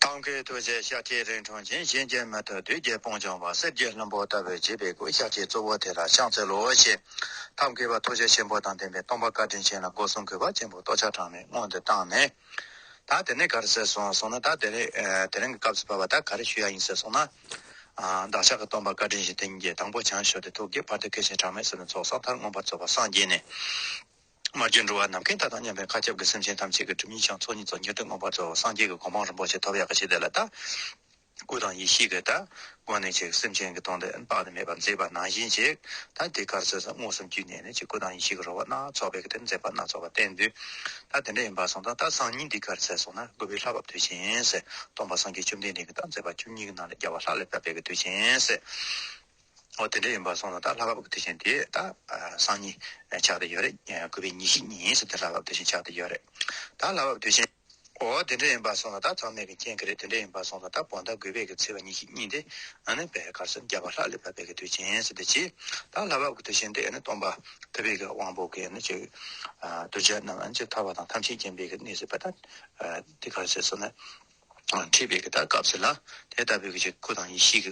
ཐབས་མཁས་ཐུགས་རྗེ་ཤཱཀྱའི་རིགས་འཁྲུངས་ཅིང་གཤིན་རྗེ་མི་ཐུབ་བདུད་རྒྱལ་དཔུང་བྱང་བ་གསེར་གྱི་ལྷུན་པོ་ལྟ་བུའི་བརྗིད་པའི་སྐུ་ཤཱཀྱའི་གཙོ་བོ་དེ་ལ་ཕྱག་འཚལ་ལོ་ཞེས། ཐབས་མཁས་པ་ཐུགས་རྗེ་ཆེན་པོ་དང་ལྡན་པའི་སྟོང་པ་བཀའ་དྲིན་ཆེན་ལ་སྒོ་སྲུང་གུས་པ་ཆེན་པོས་ལྟོ་ཆ་གྲངས་མེད་སྔོན་དུ་བཏང་ནས། ད་དེ་ནས་གར་ཟེར་སོང་གསུངས་ན་ད་དེ་དེ་རིང་གི་སྐབས་སུ་བབས་པ་ད་ག་རེ་ཞུ་ཡག་ཡིན་ཟེར་སོང་ན། བདག་ཅག་གི་སྟོང་པ་བཀའ་དྲིན་བཞིན་དེང་གི་དང་པོ་བྱང་ཞོ་སྟེ་ཐུགས་ཀྱི་བར་དུ་མཁས་ཤིང་གྲངས་མེད་བསོད་ནམས་ཚོགས་བསགས་མཐར་མངོན་པར་རྫོགས་པར་སངས་རྒྱས་ནས། མ་བརྗོད་འགྲོ་བ་ནམ་མཁའི་མཐའ་དང་མཉམ་པའི་མཁའ་ཁྱབ་ཀྱི་སེམས་ཅན་ཐམས་ཅད་ཀྱི་སྒྲིབ་གཉིས་བྱང་ཚོགས་གཉིས་ཚོགས་ཉེར་བསྡོས་མངོན་པར་རྫོགས་པ་སངས་རྒྱས་ཀྱི་གོ་འཕང་རིན་པོ་ཆེ་ཐོབ་ཡག་གི་ཞེས་དེ་ལ་བལྟ། སྐུ་དང་ཡེ་ཤེས་ཀྱི་བལྟ། སྒོ་ནས་ཅིག་སེམས་ཅན་གྱི་སྟོང་དུ་དཔག་ཏུ་མེད་པར་མཛེས་པ་ནང་བཞིན་ཅིག། ད་དེ་གར་ཚོལ་ས་མངོན་སུམ་དཀྱུས་གནས་ནས་ཅིག་སྐུ་དང་ཡེ་ཤེས་ཀྱི་རོལ་བ་སྣ་ཚོགས་པའི་དེར་མཛེས་པ་སྣ་ཚོགས་པ་བསྟན་དུས། ད་དེ་འདྲ་ཡིན་པར་སོང་ད་ལྟ་སང་ཉིན་འདི་གར་ཚལ་སོང་ན་དགུ་པའི་ལྷ་བབས་དུས་ཆེན་སེ། སྟོང་པ་སངས་རྒྱས་བཅོམ་ལྡན་འདས་ཀྱི་ད་མཛད་པ་བཅུ་གཉིས་ཀྱི་ནང་ལས་རྒྱལ་བ་ལྷ་ལས་བབས་པའི་གྱི་དུས་ཆེན་སེ། འོ་དེ་འདྲ་ཡིན་པར་སོང་ལ་ད་ལྷ་བབས་དེ་བཞིན་དེ་ད་སང་ཉིན་ཆགས་དེ་ཡོད་རེད་དགོས་པའི་ཉིན་ཞིག་ཉིན་ཞིག་དེ་ལྷ་བབས་དེ་བཞིན་ཆགས་དེ་ཡོད་རེད་ད་ལྷ་བབས་དེ་བཞིན། འོ་དེ་འདྲ་ཡིན་པར་སོང་ལ་ད་ཚང་མས་གི་མཁྱེན་གི་རེད་དེ་འདྲ་ཡིན་པར་སོང་ལ་ད་བོ་ད་དགོས་པའི་གི་ཚེ་བ་ཉིན་ཞིག་ཉིན་དེ་ཨ་ནི་བའི་གར་སོན་རྒྱ་བ་ལྷག་ལས་བབས་པའི་གི་དུས་ཆེན་སོ་དེ་བྱས་ད་ལྷ་བབས་གི་དུས་ཆེན་དེ་ཨ་ནི་སྟོང་པ་ཐུབ་པའི་གི་དབང་པོ་གི་ཨ་ནི་ཆོས་གདུལ་བྱ་རྣམས་ཨ་ནི་ཆེས་ཐར་བ་དང་ཐམས་ཅད་མཁྱེན་པའི་གི་གནས་སུ་བབས་ད་དེ་གར་སོན་སོང་ན། ཁྲིད་པའི་གདམས་ངག་བྱས་ལ། དེ་ལྟ་བུའི་ཆོས་སྐུ་དང་ཡེ་ཤེས་ཀྱི་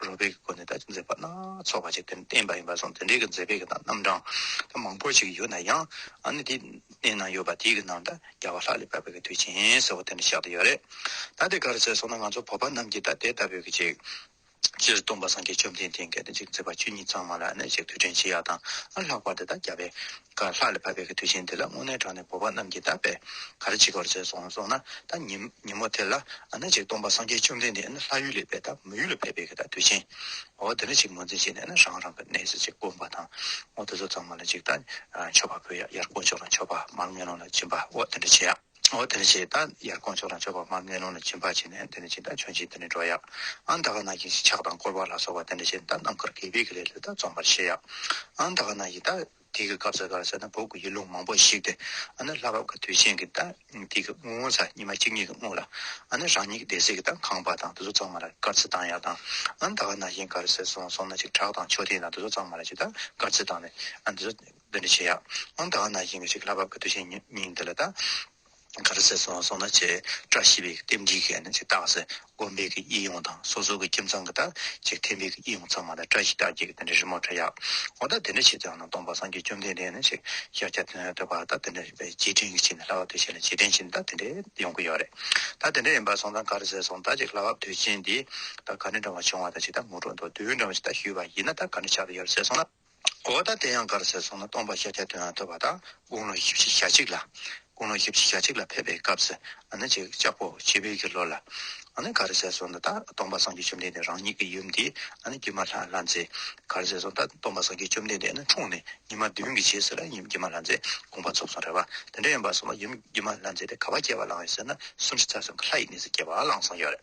རོལ་པའི་སྒོ་ནས་དག་མཛད་པ་སྣ་ཚོགས་པ་ཅིག་བསྟན་པ་ཡིན་པར་སོང་དེ་འདྲའི་མཛད་པའི་རྣམ་གྲངས་མང་པོ་ཅིག་ཡོད་ན་ཡང། ནི་དེ་གནས་ན་ཡོད་པ་དེ་ཡི་ནང་དུ་རྒྱལ་བ་ལྷ་ལས་བབས་པའི་དུས་ཆེན་ཟེར་བ་དེ་འདྲ་བཞག་ཏུ་ཡོད་རེད། ད་དེ་ག་རེ་བྱས་སོང་ན་ང་ཚོ་བོད་པ་རྣམས་ཀྱིས་ད་དེ་ལྟ་བུའི་ཆོས། སྤྱིར་སྟོང་པ་སངས་རྒྱས་བཅོམ་ལྡན་འདས་འགལ་ཟླ་འཇིག་མཛད་པ་བཅུ་གཉིས་ཚང་མ་ལ་ནི་ཞེས་དུས་དྲན་བྱེད་ཡ་དང་ལྷག་པར་དེ་དག་རྒྱ་བའི། ཀར་ལྷག་ལས་ཕ་བད་ཀྱི་དུས་ཆེན་འདི་ལ་སྔོན་གནས་གྲོང་ནས་བོད་པ་རྣམས་ཀྱིས་དག་པའི་གར་བྱེད་དགོར་བྱས་སོང་སོང་ན་ད་ཉིན་མོ་དེ་ལ་ནི་ཞེས་སྟོང་པ་སངས་རྒྱས་བཅོམ་ལྡན་འདས་ནི་ལྷ་ཡུལ་ལས་བས་ད་མི་ཡུལ་ལ་ཕེབས་པའི་གི་ད་དུས་ཆེན། འོ་དེ་ནི་ཞིག་ངོས་འཛིན་བྱས་ནས་ནི་རང་རང་གི་གནས་སུ་ཅིག་བསྐོར་བ་དང། འོ་དེ་ཚོ་ཚང་མ་ལ་ཅིག་ད་མཆོད་པ་ཕུལ་ཡ་ཡར་དཀོན་མཆོག་ལ་མཆོད་པ་མར་དམེ་ལོང་ལ་སྦྱིན་པ་འོ་དེ་འདྲ་བྱེད་ཡ། འོ་དེ་ནི་ཞེས་ད་ཡར་དཀོན་མཆོག་དང་མཆོད་པ་མ་གནས་ལུང་ལ་བྱིན་པར་བྱས་ནས་དེ་ནི་ཅི་ད་བྱོན་ཅིག་དེ་ནི་འགྲོ་ཡག་ཨང་ད་ག་ན་གིས་ཞེས་ཕྱག་དང་བསྐོར་བ་ལ་སོགས་པ་དེ་འདྲ་བྱས་ནས་ད་ནམ་མཁར་གས་པས་ཀྱི་ལས་ལྷོད་ད་རྩོམ་པར་བྱེད་ཡག་ཨང་ད་ག་ན་གིས་ད་དེའི་གི་སྐབས་སུ་ག་རེ་ཟེར་ན་བོད་ཀྱི་ཡུལ་ལུང་མང་པོ་ཞིག་སྟེ་ཨ་ནི་ལྷ་བབས་ཀྱི་དུས་ཆེན་གྱི་ད་དེའི་གི་དངུལ་ངོ་ཚ་ཉི་མ་གཅིག་གཉིས་གི་དངུལ་ལ་ཨ་ནི་རང་ཉིད་ཀྱི་སྡེ་སྲིད་ཀྱི་ད་ཁང་པ་དང་དེ་ཚོ་ཚང་མ་ལ་སྐར་རྩིས་བཏང་ཡག་དང་ཨང་ད་ག་ན་གིས་ག་རེ་ཟེར་སོང་སོང་ན་ཅིག་བྲག་དང་མཆོད་རྟེན་དང་དེ་ཚོ་ཚང་མ་ལ་ཅིག་ད་སྐར་རྩིས་བཏང་ནས་ཨ་དེ་ཚོ། འདི་འདྲ་བྱེད་ཡག་ཨང་ད་ང་ན་ཞིང་གི་ཞིག་ལྷ་བབ་ཀྱི་དུས་ཆེན་ཉིན་འདི་ལ་ད་ག་རུ་ཟེར་སོང་སོང་ན་བྱེ་བྲག་ཤེས་པའི་རྟེན་འབྲེལ་གྱི་ནི་ཅིག་བཏགས་ཟེར་དགོན་པའི་གི་ཡིད་ཡོངས་དང་སོ་སོ་གི་ཁྱིམ་ཚང་གི་ད་ཅིག་ཐེམ་པའི་གི་ཡིད་ཡོངས་ཚང་མ་ད་བཀྲ་ཤིས་རྟགས་བརྒྱད་ཀྱི་དེ་འདྲ་རི་མོ་བྲ་ཡག་ཨོ་ད་དེ་འདྲ་བྱེད་ཙང་ན་སྟོང་པ་སངས་རྒྱས་བཅོམ་ལྡན་འདས་ནི་ཅིག་ཤ་སྐྱ་ཐུན་ལྟ་བ་ད་དེ་འདྲ་རེད་པས་རྗེས་དྲན་གྱི་ཆེད་ནི་ལྷ་བབ་དུས་ཆེན་ལ་རྗེས་དྲན་ཆེད་ནི་ད་དེ་འདྲ་ཡོང་གི་ཡོད་རེད་ད་དེ་འདྲ་ཡིན་པ་སོང་ཙང་ག་རུ་ཟེར་སོང་ད་ཅིག་ལྷ་བབ་དུས་ཆེན་འདི་ད་ག་འདྲ་འབྲང་བ་བྱུང་བ་ད་ཅིག་ད་ངོ་སྤྲོད་འདུག་དུས་འདྲ་བ་ཞིག་ད་ཞུས་པ་ཡིན་ན་ད་ག་འདྲ་ཆགས་ཀྱི་ཡོད་རེད་ཟེར་སོང་ན། གོ་བ་དང་དེ་ཡང་གར་སེར་སོང་ན་སྟོང་པ་ཤཱཀྱ་དོན་ཡང་ཐོས་པ་དང་དགུང་ལོ་བཞི་བཞི་ཞག་གཅིག་ལ། དགུང་ལོ་བཞི་བཞི་ཞག་གཅིག་ལ་ཕེབས་པའི་སྐབས་སུ། ལྕགས་ཕོ་ཕྱི་བོད་ཀྱི་ལོ་ལ། གར་སེར་སོང་ན་ད་སྟོང་པ་སངས་རྒྱས་བཅོམ་ལྡན་འདས་རང་ཉིད་ཀྱི་ཡུམ་འདི། བརྒྱུད་མ་ལྷ་ལྷ་མཛེས། གར་སེར་སོང་ད་སྟོང་པ་སངས་རྒྱས་བཅོམ་ལྡན་འདས་ནི་འཁྲུངས་ནས་ཉི་མ་བདུན་གྱི་རྗེས་སུ་ལ་ཡུམ་བརྒྱུད་མ་ལྷ་མཛེས་དགོངས་པ་ཚོགས་སོང་རེད་བ། དེ་འདྲ་ཡིན་པར་སོང་བ་ཡུམ་བརྒྱུད་མ་ལྷ་མཛེས་པའི་ག་བ་སྐྱེ་བ་བླངས་ཡོད་ཟེར་ན་གསུམ་བཞི་རྩ་གསུམ་གྱི་ལྷ་ཡི་གནས་སུ་སྐྱེ་བ་བླངས་སོང་ཡོད་རེད།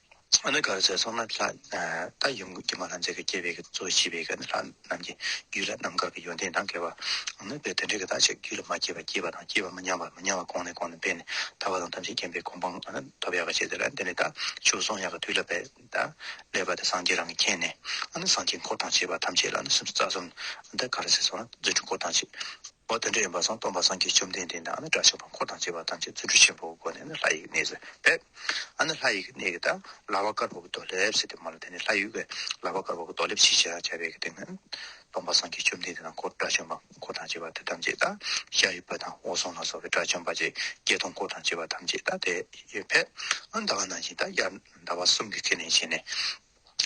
ཨ་ནི་གར་ཟས་སོགས་ནི་ལྷ་རྟ་ཡུམ་གྱི་མ་ལྷ་མཛེས་དགའ་སྐྱེས་པའི་གཙོ་བོ་བྱིས་པའི་གནས་ལྷ་རྣམས་ཀྱི་རྒྱུད་ལ་ནམ་མཁའ་གི་ཡོན་ཏན་དང་འགལ་བ་ནི་བས་དོན་དྲན་གྱི་བདག་ཅག་རྒྱུད་ལ་མ་སྐྱེས་པ་སྐྱེས་པ་དང་སྐྱེས་པ་མི་ཉམས་པ་མི་ཉམས་པ་གོང་ནས་གོང་ནས་སྤེལ་ནས་ཐར་བ་དང་ཐམས་ཅད་མཁྱེན་པའི་གོ་འཕང་ཐོབ་ཡག་ག་བྱེད་དེ་ལ་འདི་ནི་དག་མཆོད་གསུང་ཡག་ག་དུས་ལ་བས་དག་ལས་པ་དེ་སངས་རྒྱས་རང་གིས་མཁྱེན་ནས་ཨ་ནི་སངས་རྒྱས་འཁོར་དང་བཅས་པ་ཐམས་ཅད་ལ་ནི་སེམས་སུ་རྩ་གསུམ་ཨ་ནི་གར་ཟས་སོགས་ནི་རྫུ་འཕྲུལ་འཁོར་དང་བཅས་པ་དོན་དྲན་ཡོན་པ་སངས་སྟོང་པ་སངས་རྒྱས་བཅོམ་ལྡན་འདས་དང་ཨ་ནི་དགྲ་བྱ་བ་འཁོར་དང་བཅས་པ་ཐམས་ཅད་རྫུ་འཕྲུལ་ཆེན་པོའི་སྒོ་ནས་ནི་ལྷ་ཡི་གནས་སུ་བས། ཨ་ནི་ལྷ་ཡི་གི་གནས་ཀྱི་དང་ལྭ་བ་དཀར་པོ་གི་རྡོ་ལེབ་ཟེར་ཏེ་མ་ལ་དེ་ནས་ལྷ་ཡུལ་གྱི་ལྭ་བ་དཀར་པོ་གི་རྡོ་ལེབ་ཞེས་བྱ་བའི་གི་སྟེང་ན་སྟོང་པ་སངས་རྒྱས་བཅོམ་ལྡན་འདས་དང་འཁོར་དགྲ་བཅོམ་པ་འཁོར་དང་བཅས་པ་དེ་ཐམས་ཅད་དང་ཤ་རི་བྷ་དང་འོག་སོང་ལ་སོགས་པའི་དགྲ་བཅོམ་པ་ཇི་སྐད་དུ་འཁོར་དང་བཅས་པ་ཐམས་ཅད་དང་དེ་ཡོད་པས་ཨ་ཟླ་བ་ནང་བཞིན་དང་དབྱར་ཟླ་བ་གསུམ་གྱི་གི་ནས་བྱས་ནས།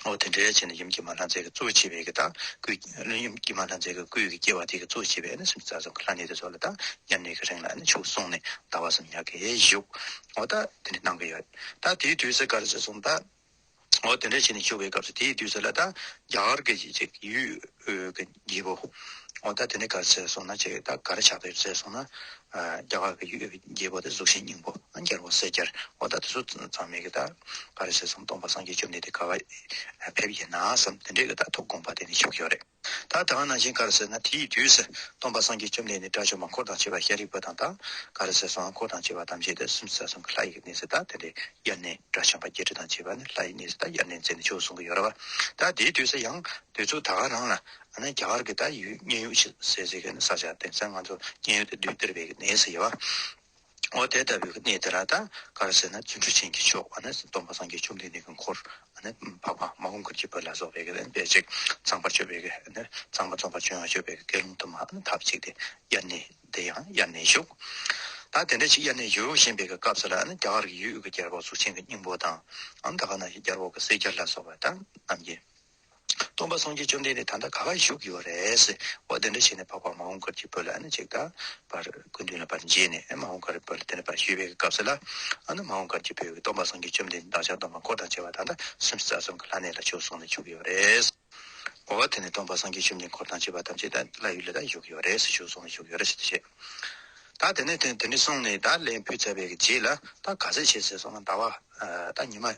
འོ་དེ་འདྲའི་ཕྱིར་ན་ཡུམ་གྱི་མ་ལྷ་མཛེས་ཀྱི་གཙོ་བོ་བྱེད་པའི་གྱི་དང་སྐུའི་སྐྱེ། ཡུམ་གྱི་མ་ལྷ་མཛེས་ཀྱི་སྐུའི་གྱི་སྐྱེ་བ་དེའི་གྱི་གཙོ་བོ་བྱེད་པས་ནི་སུམ་ཅུ་རྩ་གསུམ་གྱི་ལྷ་གནས་དེ་ཚོ་ལ་དང་མཉམ་གནས་ཀྱི་རིང་ལ་ནི་ཆུག་གསུངས་ནས་ཟླ་བ་གསུམ་ཉག་གིས་བཞུགས། འོ་ད་དེ་འདྲའི་གནང་གི་ཡོད། ད་དེའི་དུས་སུ་གར་ཞེས་གསུངས་པ། འོ་དེ་འདྲའི་ཕྱིར་ནི་བཞུགས་པའི་སྐབས་སུ་དེའི་དུས་སུ་ལ་དང་རྒྱ་གར་གྱི་ཡུལ་གྱི། བགྱིས་པོ། འོ་ད་དེ་ནས་གར་བཙལ་སོང་ན་ཅེས་ད་གར་ཕྱག་དཔེར་བཙལ་སོང་ན། རྒྱ་གར་གྱི་ཡུལ་བགྱིས་པོ་དེ་གཟུགས་ཤིང་སྙིང་པོ་རྒྱལ་བོ་སེ་རྒྱལ། འོ་ད་དེ་ཚོ་ཚང་མས་གི་ད་གར་བྱས་སོང་སྟོང་པ་སངས་རྒྱས་བཅོམ་ལྡན་འདས་ག་བ་ཕེབས་ཡིན་ན་བསམ་དེ་འདྲས་གི་ད་ཐུགས་དགོངས་པ་དེ་ནི་ཤོག་ཤོག་རེད། ད་དང་ནང་བཞིན་གར་བཙལ་ན་དེའི་དུས་སུ་སྟོང་པ་སངས་རྒྱས་བཅོམ་ལྡན་འདས་དགྲ་བཅོམ་པ་འཁོར་དང་བཅས་པ་ཤཱ་རིའི་བུ་དང་ད་གར་བཙལ་སོང་ང་འཁོར་དང་བཅས་པ་ཐམས་ཅད་དེ་སུམ་བརྩེགས་གསུམ་གྱི་ལྷ་ཡི་གནས་སུ་ད་དེ་འདྲས་དབྱར་གནས་དགྲ་བཅོམ་པ་བརྒྱད་ཁྲི་དང་བཅས་པ་ནི་ལྷ་ཡི་གནས་སུ་ད་དབྱར་གནས་མཛད་ནས་བྱོལ་སོང་གི་ཡོད་ར་བ། ད་དེའི་དུས་སུ་ཡང། དེ་ཚོ་ད་ག་རང་ལ་ཨ་ནི་རྒྱ་གར་གི་ད་ཡོད་སྙན་ཡོག་ཞིག་ཟེར་ཟེར་གི་ནི་ས་ཆ་དེ་ཚན་ང་ཚོ་སྙན་ཡོག་དེ་དུས་དེར་བས་གི་ནི་ཟེར་བ་འོ་དེ་ལྟ་བུའི་གི་གནས་དེ་ར་ད་གར་ཟེར་ན་བརྩོན་འགྲུས་ཆེན་གྱི་མཆོག་ཨ་ནི་སྡོམ་པ་སངས་རྒྱས་བཅོམ་ལྡན་འདས་གི་འཁོར་ཨ་ནི་འཕགས་པ་མ་ཧོ་མཁར་གྱི་བུ་ལ་སོགས་པའི་གི་ནི་འབད་ཅིག་ཚངས་པར་སྤྱོད་པའི་གི་ནི་ཚངས་པ་རྫོགས་པར་སྤྱོད་ཡང་སྤྱོད་པའི་གི་དགེ་སློང་དུ་མ་ཨ་ནི་ཐབས་ཅིག་དེ་དབྱར་གནས་དེ་ཡང་དབྱར་གནས་བཞུགས། ད་དེ་འདྲ་ཞིག་དབྱར་གནས་བཞུགས་བཞིན་པའི་གི་སྐབས་སུ་ལ་ཨ་ནི་རྒྱ་གར་གི་ཡུལ་དབུས་ཀྱི་རྒྱལ་པོ་གཟུགས་ཆེན་གྱི་སྙིང་པོ་དང་ཨ་ནི་ད་ག་ན་ཞིག་རྒྱལ་པོ་གི་སྲས་རྒྱལ་ལ་སོགས་པ་ད་རྣམས་ཀྱི། སྟོང་པ་སངས་རྒྱས་བཅོམ་ལྡན་འདས་ད་ལྟ་ག་ག་ཡི་བཞུགས་ཡོད་རེད། འོ་དེ་འདྲ་བྱས་ནས་འཕགས་པ་མ་འོངས་སྐར་གྱི་བུ་ལ་ཨ་ནི་ཅིག་ད་བར་སྐུ་མདུན་ལ་བར་མཇལ་ནས་མ་འོངས་སྐར་གྱི་བུ་ལ་དེ་འདྲ་བར་ཞུས་པའི་སྐབས་སུ་ལ་ཨ་ནི་མ་འོངས་སྐར་གྱི་བུ་སྟོང་པ་སངས་རྒྱས་བཅོམ་ལྡན་འདས་བདག་ཅག་སྟོང་པ་འཁོར་དང་བཅས་པ་ད་ལྟ་སུམ་བཅུ་རྩ་གསུམ་གྱི་ལྷ་གནས་ལ་བྱོལ་སོང་ནས་བཞུགས་ཡོད་རེད། འོ་དེ་ནས་སྟོང་པ་སངས་རྒྱས་བཅོམ་ལྡན་འཁོར་དང་བཅས་པ་ཐམས་ཅད་ད་ལ་ཡུལ་ལ་ད་བཞུགས་ཡོད་རེད་བཞུགས་སོང་ནས་བཞུགས་ཡོད་རེད་ཞེས་དེ་བཤད། ད་དེ་ནས་དེ་འདྲ་གསུངས་ནས་ད་ལན་ཕུད་ཚར་བའི་རྗེས་ལ་ད་ག་ཟེ་བྱེད་ཟེར་སོང་ང་ད་བ་ད་ཉི་མ།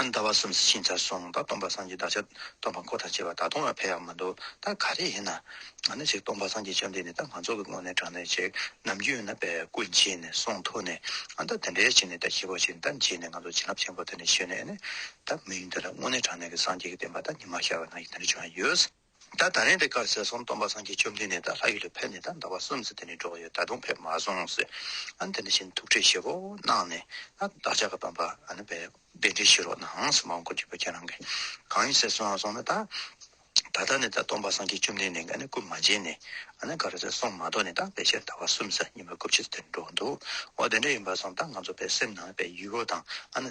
ཟླ་བ་གསུམ་ཟི་ཞིང་འཆར་སོང་ད་སྟོང་པ་སངས་རྒྱས་བདག་ཅག་སྟོང་པ་འཁོར་དང་བཅས་པ་ད་དུང་ལ་ཕན་ཡག་མི་འདུག་ད་ག་རེ་ཡིན་ན་ནི་ཅིག་སྟོང་པ་སངས་རྒྱས་བཅོམ་ལྡན་འདས་ད་ང་ཚོ་གི་སྔོན་ནས་དྲངས་ནས་ཅིག་ནམ་རྒྱུན་ན་པའི་སྐུ་མཆིས་ནས་གསུང་ཐོས་ནས་ད་དེ་འདྲའི་བྱས་ནས་ད་ཁྱི་ཕོ་བྱས་ནས་ད་འཇིགས་ནས་ང་ཚོ་བྱིན་རླབས་ཆེན་པོ་དེ་ནས་ཤེས་ནས་ནི་ད་མི་ཡུལ་འདི་ལ་སྔོན་ནས་དྲངས་ནས་གི་སངས་རྒྱས་ཀྱི་བསྟན་པ་ད་ཉི་མ་ཤར་བ་ན་ཡིག་དེ་འདྲ་བྱུང་ཡ་ཡོད། ད་ད་རན་དེ་ཀར་ཟས་སོང་སྟོང་པ་སངས་རྒྱས་བཅོམ་ལྡན་ནས་ད་ལྷ་ཡུལ་ལ་ཕེབས་ནས་ད་ཟླ་བ་གསུམ་ཟེར་དེ་ནས་འགྲོ་གི་ཡོད་ད་དུང་ཕེབས་མ་སོང་ཟེར་ཨ་ནི་དེ་འདྲ་བྱས་ནས་ཐུགས་ཁྲལ་ཞེ་བོ་གནང་ནས་ཨ་བདག་ཅག་གི་སྟོང་པ་ཨ་ནི་བས་གདན་འདྲེན་ཞུས་རོགས་གནང་ཟེར་མང་བཀུར་གྱི་བུ་ཁྱེད་རང་གི་གང་ཡིན་ཟས་སོང་ཨ་སོང་ན་ད་ད་ལྟ་ནས་ད་སྟོང་པ་སངས་རྒྱས་བཅོམ་ལྡན་ནས་ཨ་ནི་སྐུ་མ་མཇལ་ནས་ཨ་ནི་གར་ཟས་སོང་མ་གཏོགས་ནས་ད་ཕལ་ཆེར་ཟླ་བ་གསུམ་ཟེར་ཉིན་མ་དགུ་ཕྱི་ཟེར་དེ་ནས་འགྲོ་གི་འདུག་འོ་དེ་འདྲ་ཡིན་པ་སོང་ད་ང་ཚོ་བས་སེམས་ནང་བས་ཡུལ་བོ་དང་ཨ་ནི།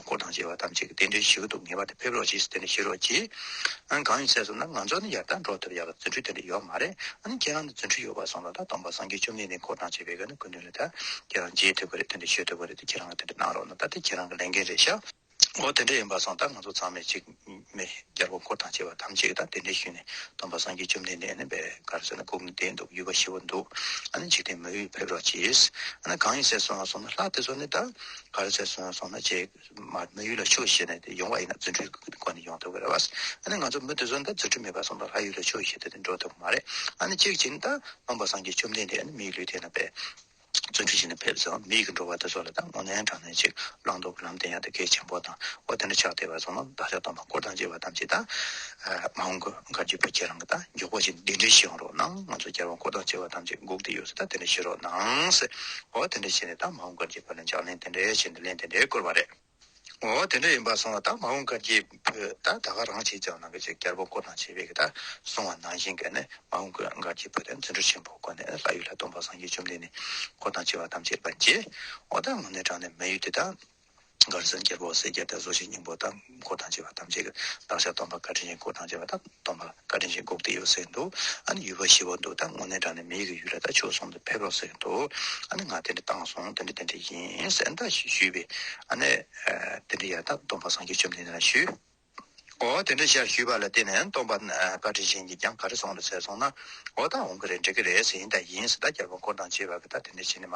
འཁོར་དང་བཅས་པ་ཐམས་ཅད་ཀྱི་རྟེན་འབྲེལ་ཞི་བ་དུ་ངེས་པ་དེ་ཕེབས་རོགས་གྱིས་རྟེན་འབྲེལ་ཞི་རོགས་གྱིས། ཨང་གང་ཡིན་ཟེར་སོང་ན་ང་ཚོ་ནི་ཡར་ལྟར་འགྲོ་ཐུབ་ཡག་ལ་རྫུན་ཁྲུས་རྟེན་འབྲེལ་ཡོག་མ་རེད་ཨང་ཁྱེད་རང་ནི་རྫུན་ཁྲུས་ཡོག་པ་སོང་ལ་ད་སྟོང་པ་སངས་རྒྱས་བཅོམ་ལྡན་འདས་འཁོར་དང་བཅས་པའི་ག་ནི་དགོས་འདུན་རེད་ད་ཁྱེད་རང་མཇལ་ཐུབ་པ་རེད་རྟེན་འབྲེལ་ཞུ་ཐུབ་པ་རེད་ད་ཁྱེད་རང་ལ་རྟེན་འབྲེལ་གནང་རོགས་གནང་ད་དེ་ཁྱེད་རང་གི་ལས་འགན་རེད་ཤག་འོ་དེ་འདྲ་ཡིན་པ་སོང་ད་ང་ཚོ་ཚང་མས་གཅིག། མེ་སྦྱར་བ་འཁོར་དང་བཅས་པ་ཐམས་ཅད་ཀྱིས་དང་དེ་འདྲའི་ཤུལ་ནས་སྟོན་པ་སངས་རྒྱས་བཅོམ་ལྡན་འདས་ནི་བད་གར་སེར་སྣ་བཀུག་ནས་བསྡད་འདུག་ཡུལ་འབའ་ཞིག་བར་འདུག་ཨ་ནི་འཇིག་རྟེན་མོ་ཡིས་ཕེབས་རོགས་གྱིས། ཨ་ནི་གང་ཡིན་ཟས་སོང་ང་སོང་ན་ལྷ་དེ་ཚོ་ནི་བདག་གར་ཟས་སོང་སོང་ན་རྗེས་མར་མོ་ཡུལ་ལ་ཆུ་བཞེས་ནས་ཡོང་བ་ཡིན་ན་རྫུ་འཕྲུལ་གྱི་སྒོ་ནས་ཡོང་ཐུབ་ཀྱི་རེད་བ། ཨ་ནི་ང་ཚོ་མི་དེ་ཚོ་ནི་ད་རྫུ་འཕྲུལ་མེད་པར་སོང་དང་ལྷ་ཡུལ་ལ་ཆུ་བཞེས་ཏེ་འགྲོ་ཐུབ་ཀྱི་མ་རེད། ཨ་ནི་གཅིག་བྱས་ནི་ད་སྟོན་པ་སངས་རྒྱས་བཅོམ་ལྡན་འདས་ནི་མིའི་ལུས་དེ་ན་བད། བརྩོན་འགྲུས་ཆེ་ནས་ཕེབས་སོ་མིག་གིས་འགྲོ་བ་དེ་ཚོ་ལ་ད་སྔོ་ནན་དྲང་ནན་ཅིག་བླང་དོར་གྱི་ལམ་བསྟན་ཡག་དེ་གལ་ཆེན་པོ་དང་བོ་དེ་འདྲ་ཆགས་བསྡད་པ་ཚོ་ནོར་བདག་ཅག་སྟོང་པ་བསྐོར་དང་བཅས་པ་ཐམས་ཅད་དང། མ་འོངས་ཀྱི་བཀའ་བརྒྱུད་པ་ཁྱེད་རང་གི་དང་མགྱོགས་པོ་ཅིག་འདི་འདྲའི་བྱེད་ཡོང་རོགས་གནང་ང་ཚོ་བསྐྱར་བ་བསྐོར་དང་བཅས་པ་ཐམས་ཅད་སྒུག་བསྡད་ཡོད་ས་ད་དེ་འདྲ་བྱེད་རོགས་གནང། ཨོ་དེ་འདྲ་བྱས་ནས་ད་མ་འོངས་བཀའ་བརྒྱུད་པ་ལ་འཇགས་ལན་དེ་འདྲའི་བྱས་འདི་ལན་དེ་འདྲའི་བསྐུར་བ་རེད། ངོ་བོ་དེ་འདྲ་ཡིན་པར་སོང་བ་དག་མ་འོངས་སྐར་རྒྱས་བོད་དག་ད་ག་རང་བྱས་ཀྱང་ནང་གི་ཆོས་གྱར་པོ་མགོ་ནག་བྱས་པའི་གི་དག་སོང་བ་ནང་བཞིན་གྱི་ནི་མ་འོངས་སྐར་སྒར་རྒྱས་བོད་དེ་བརྩོན་འགྲུས་ཆེན་པོ་བཀོད་ནས་ལྷ་ཡུལ་ལྷ་སྡོང་པ་སངས་རྒྱས་བཅོམ་ལྡན་ནི་འཁོར་དང་བཅས་པ་ཐམས་ཅད་པ་རྗེ་འོ་ད་ངོ་ནས་དྲངས་ནས་མི་ཡུལ་དེ་དག་སྒར་སངས་རྒྱས་པོ་སེར་སྐྱ་དག་བཟོ་ཞིང་སྙིང་པོ་དག་འཁོར་དང་བཅས་པ་ཐམས་ཅད་ཀྱི་བདག་ཞག་སྡོང་པ་བཀའ་དྲིན་ཅན་འཁོར་དང་བཅས་པ་དག། སྟོང་པ་བཀའ་དྲིན་ཆེ་འགུགས་བདེ་ཡོད་ཟེར་འདུག་ཨ་ནི་ཡུལ་བ་ཞི་བ་འདུག་ད་དངོས་གནས་དྲང་ནས་མི་ཡི་གི་ཡུལ་ལ་ད་ཆོས་གསུམ་དུ་ཕེབས་རོགས་ཟེར་འདུག་ཨ་ནི་ང་དེ་འདྲ་བཏང་སོང་དེ་འདྲ་དེ་འདྲ་ཡིན་གསལ་འདྲ་ཞིག་ཞུས་པས་ཨ་ནི་དེ་འདྲ་ཡག་ད་སྟོང་པ་སངས་རྒྱས་བཅོམ་ལྡན་འདས་ལ་ཞུས། འོ་དེ་འདྲ་ཤར་ཞུས་པ་ལ་བརྟེན་ནས་སྟོང་པ་བཀའ་དྲིན་ཆེ་ཉིད་ཀྱང་ག་རེ་སོང་རེད་ཟེར་སོང་ན་འོ་ད་འོང་གི་རེད་འགྲིག་གི་རེད་ཟེར་ཡིན་ད་ཡིན་ཟེར་ད་རྒྱལ་པོ་འཁོར་དང་བཅས་པ་གི་ད་དེ་འདྲ་བྱེད་ནི་མ་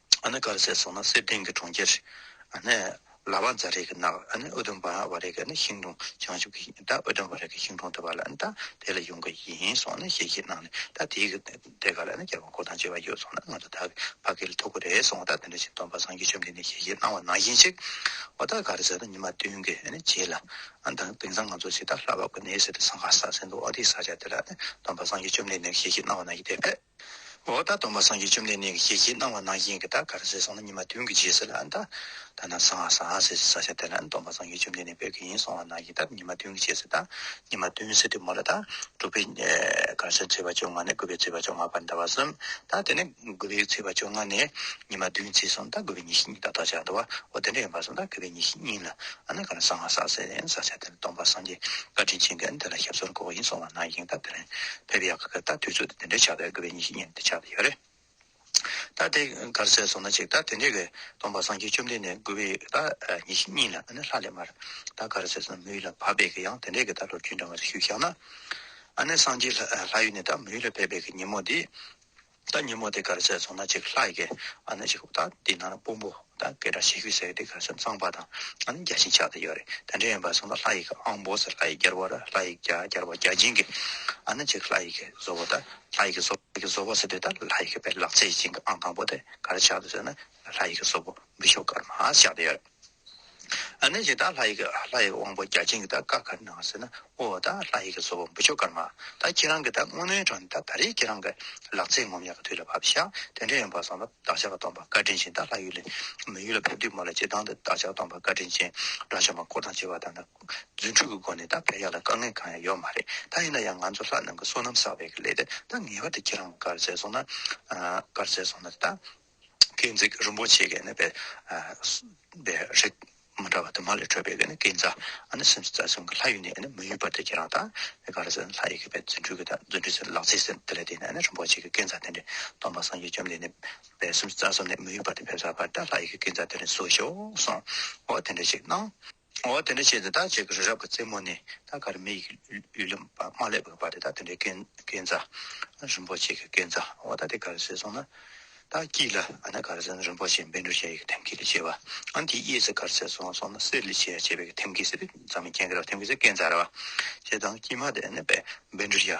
ཨ་ནེ་དཀར་ཟས་སོགས་ནི་གསེར་ལྡན་གྱི་གྲོང་ཁྱེར། ཨ་ནེ། ལ་བ་ཛཱ་རེ་གི་ནགས། ཨ་ནེ་ཨུ་དུམ་བྷ་བ་རེ་གི་ནི་ཤིང་དྲུང་བྱང་ཆུབ་ཀྱི་ཤིང། ད་ཨུ་དུམ་བྷ་རེ་གི་ཤིང་དྲུང་དེ་བ་ལ་ནི་ད་དེ་ལ་ཡོང་གི་ཡིན་སོགས་ནི་གཤེ་གཤེ་གནང་ནས་ད་དེའི་གི་དེ་ག་ལ་ནི་རྒྱལ་བ་འཁོར་དང་བཅས་པ་ཡོད་སོང་ན་ང་ཚོ་ད་གི་བ་གི་ལ་ཐུག་གི་རེད་སོང་ད་དེ་འདྲ་བྱས་སྟོན་པ་སངས་རྒྱས་ཆོས་འདི་ནས་གཤེ་གཤེ་གནང་བ་ནང་བཞིན་ཞིག་ཨོ་ད་ག་རེ་ཟེར་ན་ཉི་མ་བདུན་གི་ནི་རྗེས་ལ་ཨ་ད་དེང་སང་ང་ཚོ་ཞིག་ད་ལྷ་བབ་གི་ནས་ཟེར་ཏེ་ས་ག་ས་ཟེར་འདུག་ཨོ་དེའི་ས་ཆ་དེ་ལ་ནི་སྟོན་པ་སངས་རྒྱས་ཆོས་འདི་ནས་གཤེ་གཤེ་གནང་བ་ནང་བཞིན་དེ་བས། འོ་ད་སྡོམ་པ་སངས་རྒྱས་བཅོམ་ལྡན་གནས་ཀྱི་ཞལ་གྱིས་གནང་བ་ནང་བཞིན་གྱི་ད་ག་རེ་ཟེར་སོང་ན་ཉི་མ་བདུན་གྱི་རྗེས་ཟེར་ལ་ཨ་ད་ད་ནང་སང་ཨ་སང་ཨ་ཟེར་གྱི་ས་ཆ་དེ་ལ་སྡོམ་པ་སངས་རྒྱས་བཅོམ་ལྡན་གནས་དཔལ་གྱི་ཡིན་སོང་བ་ནང་བཞིན་ད་ཉི་མ་བདུན་གྱི་རྗེས་ཟེར་ད་ཉི་མ་བདུན་ཟེར་དུས་མོ་ལ་ད་དྲུག་པའི་གར་ཆ་ཚེས་པ་བཅོ་ལྔ་ནས་དགུ་པའི་ཚེས་པ་བཅོ་ལྔ་བར་ཟླ་བ་གསུམ་ད་དེ་ནས་དགུ་པའི་ཚེས་པ་བཅོ་ལྔ་ནས་ཉི་མ་བདུན་བརྩིས་སོང་ད་དགུ་པའི་ཉི་ཤུ་གཉིས་ད་ལྟོ་ཆགས་འདུག་བ་འོ་དེ་འདྲ་ཡིན་པར་སོང་ད་དགུ་པའི་ཉི་ཤུ་གཉིས་ལ་ཨ་ན་ག་རེ་སང་ཨ་སང་ཟེར་ས་ཆ་དེ་ལ་སྡོམ་པ་སངས་རྒྱས་བཀའ་དྲིན་ཆེན་གྱི་ཨ་ནི་དེ་ལ་ཞབས་སོར་འགོག་གི་ཡིན་སོང་བ་ནང་བཞིན་ད་དེ་ལ་ཕེབས་ཡག་གི་ད་དུས་ཚོད་དེ་འདྲའི་ཆགས་པའི་དགོས་པའི་ཉིན་ཤིག་ཉིན་དེ་ཆགས་དེ་ཡོད་རེད་ད་དེ་གར་ཟས་ཟོ་ན་ཅིག་ད་དེ་འདྲའི་གི་སྟོང་པ་སངས་རྒྱས་བཅོམ་ལྡན་འདས་མགུ་བའི་ད་ཉིན་ཤིག་ཉིན་ལ་ད་ནི་ལྷ་ལས་མར་ད་གར་ཟས་ཟོ་ན་མི་ཡུལ་ལ་བབས་པའི་གི་ཡང་དེ་འདྲའི་གི་ད་ལོ་རྒྱུས་འདྲ་མ་རེ་ཞུས་ཤག་ན་ཨ་ནི་སངས་རྒྱས་ལྷ་ཡུལ་ནས་ད་མི་ཡུལ་ལ་ཕེབས་པའི་གི་ཉིན་མོ་དེ། ད་ཉིན་མོ་དེ་གར་བྱས་སོང་ན་ཅིག་ལྷ་ཡི་གེ་ཨ་ན་ཅིག་ད་དེ་ནང་ན་དཔོན་པོ་ད་གེ་སྒྲ་ཞེས་ཤུལ་ཟེར་དེ་གར་ཆ་ཚང་པ་དང་ཨ་ན་བརྒྱ་ཞིང་ཆགས་དེ་ཡོད་རེད་དེ་འདྲ་ཡིན་པ་སོང་ད་ལྷ་ཡི་གེ་ཨང་བོ་ཟེར་ལྷ་ཡི་གེར་བོ་ར་ལྷ་ཡི་གེ་ཨ་གེར་བོ་བརྒྱ་བྱིན་གྱི་ཨ་ན་ཅིག་ལྷ་ཡི་གེ་བཟོ་བོ་ད་ལྷ་ཡི་གེ་བཟོ་བོ་བཟོ་བོ་ཟེར་དུས་ད་ལྷ་ཡི་གེ་པའི་ལག་རྩེ་ཞིག་ཅིག་གི་ཨང་དང་པོ་དེ་གར་ཆགས་དུ་ཟེར་ན་ལྷ་ཡི་གེ་བཟོ་བོ་འབུ་ཤོག་དཀར་མ་ཞག་དེ་ཡོད་རེད། ཨ་ནི་ཇི་ལྟར་ལྷ་ཡི་ལྷ་ཡི་དབང་པོ་བརྒྱ་བྱིན་གྱི་དག་དཀར་ཁ་ནང་ཟེར་ན་དབུ་བ་དང་ལྷ་ཡི་བཟོ་བོ་འབུ་ཆོ་དཀར་མ་དང་ཁྱེད་རང་གི་དག་སྔོན་མོའི་གྲོང་དང་ད་རེས་ཁྱེད་རང་གི་ལག་རྩེད་ངོམ་ཡག་གི་དུས་ལ་བབ་ཤག་དེ་འདྲ་ཡིན་པ་བཟང་ལ་བདག་ཅག་གི་སྟོང་པ་བཀའ་དྲིན་ཅན་དག་ལྷ་ཡུལ་ལས་མི་ཡུལ་ལ་ཕེབས་དུས་མོ་ལ་ཅི་ལྡང་དུ་བདག་ཅག་སྟོང་པ་བཀའ་དྲིན་ཅན་དགྲ་བཅོམ་པ་འཁོར་དང་བཅས་པ་དང་དང་རྫུན་འཕྲུལ་གྱི་སྒོ་ནས་དག་ཕེབས་ཡག་ལ་དཀའ་ངལ་གང་ཡང་ཡོད་མ་རེད་ད་ཡིན་ན་ཡང་ང་ཚོ་ལྷ་རྣམས་ཀྱི་བསོད་ནམས་བསགས་པའི་ལས་དེ་དག་ངེས་པར་དུ་ཁྱེད་རང་གི་བཀའ་རྩེ་སོང་ན་བཀའ་རྩེ་སོང་ན་དེ་དག་སྐས་འཛེག་རིན་པོ་ཆེ་གནས་པའི་རིགས། མ་འདྲ་བ་དུ་མ་ལས་འཕྲོས་པའི་སྐས་འཛེག། སེམས་སུ་རྩ་གསུམ་གྱི་ལྷ་ཡུལ་ནས་མི་གཡོ་བར་དེ་ཁྱེད་རང་དང། ག་རེ་ཟེར་ན་ལྷ་ཡི་གེ་པའི་རྫུ་འཕྲུལ་གྱི་དག་རྫུ་འཕྲུལ་ཟེར་ལག་རྩིས་ཟེར་དེ་ལས་དེ་ནས་རིན་པོ་ཆེ་གི་སྐས་འཛེག་དེ་ནས་སྟོང་པ་སངས་རྒྱས་བཅོམ་ལྡན་འདས་སེམས་སུ་རྩ་གསུམ་ནས་མི་གཡོ་བར་དེ་ཕེབས་སར་བར་དེ་ལྷ་ཡི་གེ་སྐས་འཛེག་དེ་ནས་གསོལ་ཞོག་གསུངས། འོ་དེ་འདྲ་ཞིག་གནང། འོ་དེ་འདྲ་བྱས་ཏེ་ད་བྱས་ཀྱི་རི་རབ་ཀྱི་རྩེ་མོ་ནས་ད་ག་རེ་མེ་ཡི་གཡུ་ལེ་མ་ལེགས་པར་བབས་ཏེ་ད་དེ་འདྲའི་རྐན་རྩ། རིན་པོ་ཆེ་གི་རྐན་རྩ་འོ་ད་དེ་ག་རེ་ཟེར་སོང་ན། ད་སྐྱིད་ལ་ཨ་ན་ག་རེ་ཟེར་ན་རིན་པོ་ཆེ་འབེན་འདྲུ་ཞལ་ཡི་ཐེམ་སྐས་ལས་བྱས་པ། ཨ་ན་དེའི་གཡས་ཟེར་ག་རེ་ཟེར་སོང་ན་གསེར་ལས་བྱས་བྱས་པའི་གི་ཐེམ་སྐས་ཟེར་བས་རྫ་མའི་རྐན་ག་རེ་བ་ཐེམ་སྐས་ཟེར་རྐན་རྩ་ར་བ། ཞེས་དང་སྐྱིད་མ་དེ་ཨ་ན་བས་འབེན་འདྲུ་ཞལ།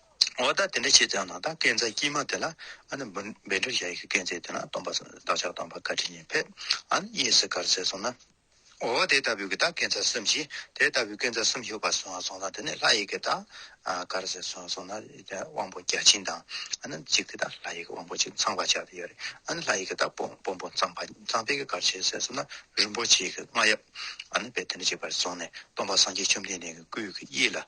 འོ་ད་དེ་འདྲ་བྱས་ཙང་ནང་ད་སྐད་འཛག་སྐྱིད་མ་དེ་ལ་ཨ་ནི་འབུ་འབད་འབྲེལ་བྱ་ཡི་གི་སྐད་འཛེག་དེ་ན་སྟོང་པ་བདག་ཅག་སྟོང་པ་བཀའ་ཁྲི་ཉིད་ཕེབས་ཨ་ནི་གཡས་སུ་གར་བསད་སོང་ན། འོ་དེ་ལྟ་བུའི་གི་ད་སྐད་འཛག་གསུམ་བྱས་དེ་ལྟ་བུའི་སྐད་འཛག་གསུམ་ཞུགས་པ་སོང་ཨ་སོང་ན་དེ་ནས་ལྷ་ཡི་གི་ད་གར་བསད་སོང་སོང་ན་དབང་པོ་བརྒྱ་བྱིན་དང་ཨ་ནི་གཅིག་དེ་ད་ལྷ་ཡི་གི་དབང་པོ་གཅིག་ཚངས་པ་བྱ་དེ་ཡོད་རེད་ཨ་ནི་ལྷ་ཡི་གི་ད་དཔོན་པོ་ཚངས་པ་ཚངས་པའི་གི་གར་བྱས་བསད་སོང་ན་རིན་པོ་ཆེའི་གི་རྔ་ཡབ་ཨ་ནི་བས་དེ་འདྲ་བྱས་པར་སོང་ནས་སྟོང་པ་སངས་རྒྱས་བཅོམ་ལྡན་འདས་ཀྱི་སྐུའི་གི་གཡས་ལ།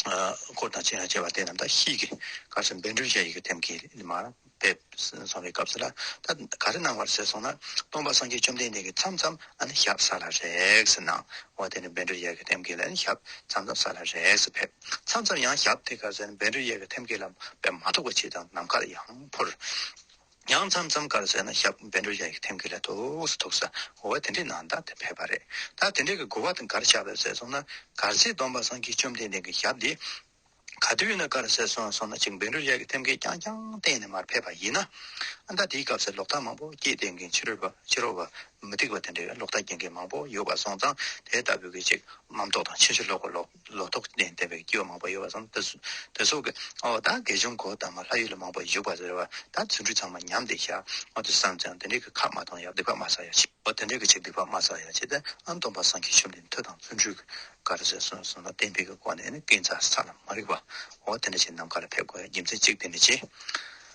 སྐོར་དང་བཅས་པ་དེ་རྣམས་ད་ཤི་གི་སྐབས་སུ་འབད་འབྲོས་བྱ་ཡི་གེ་ཐེམ་སྐས་མར་ཕེབས་སོང་བའི་སྐབས་སུ་ལ་ད་ག་རེ་གནང་བར་ཟེར་སོང་ན་སྟོང་པ་སངས་རྒྱས་བཅོམ་ལྡན་འདས་ཀྱིས་མཚམས་མཚམས་ཞབས་ས་ལ་རེག་ཟེར་གནང་བ་དེ་ནས་འབད་འབྲོས་བྱ་ཡི་གེ་ཐེམ་སྐས་ལ་ཞབས་མཚམས་མཚམས་ས་ལ་རེག་ཟེར་ཕེབས་མཚམས་མཚམས་ཡང་ཞབས་དེ་ག་ཟེར་འབད་འབྲོས་བྱ་ཡི་གེ་ཐེམ་སྐས་ལ་ཕེབས་མ་ཐུག་པ་ཕྱིས་དང་ནམ་མཁར་ཡང་འཕུར། ཡང་མཚམས་མཚམས་ཀར་ཟས་ན་ཞབས་བན་དྲུག་བརྒྱ་ཡི་ཐེམ་སྐས་ལས་ཐུགས་སུ་ཐུག་ས་བོར་བ་དེ་འདྲའི་ནང་ད་དེ་ཕེབས་པ་རེད་ད་དེ་འདྲའི་གི་དགུ་བ་དང་གར་ཆགས་པའི་ཟས་སོང་ན་གར་ཚེའི་སྡོམ་པ་སངས་རྒྱས་བཅོམ་ལྡན་འདས་ཀྱི་ཞབས་འདི་ག་དུས་ན་གར་ཟས་སོང་སོང་ན་ཅིག་བན་དྲུག་བརྒྱ་ཀྱི་ཐེམ་སྐས་རྐྱང་རྐྱང་གཏན་ནས་མར་ཕེབས་པ་ཡིན་ན་ཨ་མདའ་དེའི་སྐབས་ཟས་ལོག་ལྟ་མང་པོ་སྐྱེས་དེ་འགན་ཕྱི་རོལ་པ་ཕྱི་རོལ་བ་མི་སྡིག་པ་དེ་འདྲའི་ལོག་ལྟ་སྐྱེ་མཁན་མང་པོ་ཡོད་པ་སོང་ཙང་དེ་ལྟ་བུའི་གི་ཅིག་རྣམ་རྟོག་དང་ཕྱིན་ཅི་ལོག་གི་ལོག། ལོ་ཐོག་ནས་འདས་པའི་སྐྱེ་བ་མང་པོ་ཡོད་པ་དང་དེ་སོགས་ཀྱི་འོག་ད་དགེ་སྦྱོང་གོ་དང་མ་ལྷ་ཡུལ་ལ་མང་པོ་བཞུགས་པ་རེད་བ་ད་ཚུར་འཁྲུལ་ཚང་མ་ཉམས་ཏེ་ཤར་འོག་ཏུ་བསམས་ཀྱང་དེ་འདྲའི་གི་ཁག་མ་གཏོགས་ཡང་སྡིག་པ་མ་བསགས་ཡ་ཆེ་འོ་དེ་འདྲའི་གི་ཆེ་སྡིག་པ་མ་བསགས་ཡ་ཆེ་ད་ཨམ་སྟོང་པ་སངས་ཀྱིས་ཆོས་འདི་མཐུ་དང་བརྩོན་འགྲུས་ཀྱི་གར་ཟེར་གསུངས་གསུངས་ལ་གཏན་འབེབས་ཀྱི་སྒོ་ནས་ནི་ཀུན་བརྩ་ས་ལ་མ་རིག་པ་འོ་དེ་འདྲ་ཆེ་ནམ་མཁའ་ལ་ཕེབས་དགོས་ཡ་རྒྱུ་མཚན་གཅིག་དེ་འདྲ་ཆེ།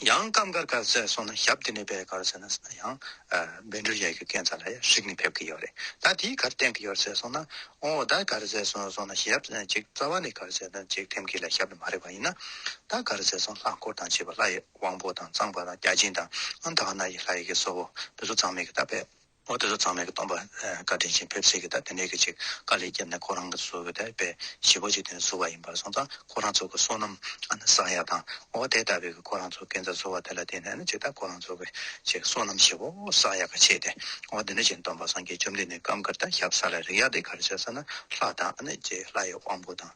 ཡང་སྐབས་འགར་གར་ཟས་སོང་ན་ཞབས་དེ་ནས་པའི་གར་ཟས་ན་ཟ་ན་ཡང། སྦེ་འབྲུག་ཡ་གི་ཀན་ས་ལ་ཡ་ཧྲིག་ནས་ཕེབས་ཀི་ཡོད་རེད་ད་དེའི་གར་སྟེང་གི་ཡོར་ཟས་སོང་ན་ཨོ་ད་གར་ཟས་སོང་སོང་ན་ཞབས་གཅིག་རྩ་བ་ནས་གར་ཟས་ན་གཅིག་ཐེམ་ཀི་ལ་ཞབས་ནས་མ་རེད་པ་ཡིན་ན། ད་གར་ཟས་སོང་ལྷ་འཁོར་དང་བྱེས་པ་ལྷ་ཡི་དབང་པོ་དང་གཙང་པ་དང་བརྒྱ་བྱིན་དང་ཨ་མདའ་ཨ་ན་ཡི་ལྷ་ཡི་གི་སོ་བོ་བུ་སོ་ཚང་མེད་གི་ད་པས། ཨོ་དེ་ཚོ་ཚང་མས་སྟོང་པ་བཀའ་དྲིན་ཆེན་ཕེབས་སྲིད་གི་ད་དེ་ནས་གི་ཅིག་དཀའ་ལས་བརྒྱབ་ནས་ཁོ་རང་གི་བཟོ་གི་དེ་པས་བཞི་པོ་ཅིག་དེ་ནས་བཟོ་བ་ཡིན་པར་སོང་ཙང་ཁོ་རང་ཚོ་གི་བསོད་ནམས་ཨ་ན་བཟང་ཡག་དང་ཨོ་དེ་ལྟ་བུའི་གི་ཁོ་རང་ཚོ་གི་གན་ས་བཟོ་བ་དེ་ལ་བརྟེན་ནས་ནི་ཅིག་ད་ཁོ་རང་ཚོ་གི་ཅིག་བསོད་ནམས་བཞི་པོ་བཟང་ཡག་གི་ཆེ་སྟེ་ཨོ་དེ་ནས་ཅིག་སྟོང་པ་སངས་རྒྱས་བཅོམ་ལྡན་འདས་སྐབས་འགར་ད་ཞབས་ས་ལ་རིག་ཡག་དེ་གར་བྱས་ས་ན་ལྷ་དང་ཨ་ན་ཅིག་ལྷ་ཡི་དབང་པོ་དང་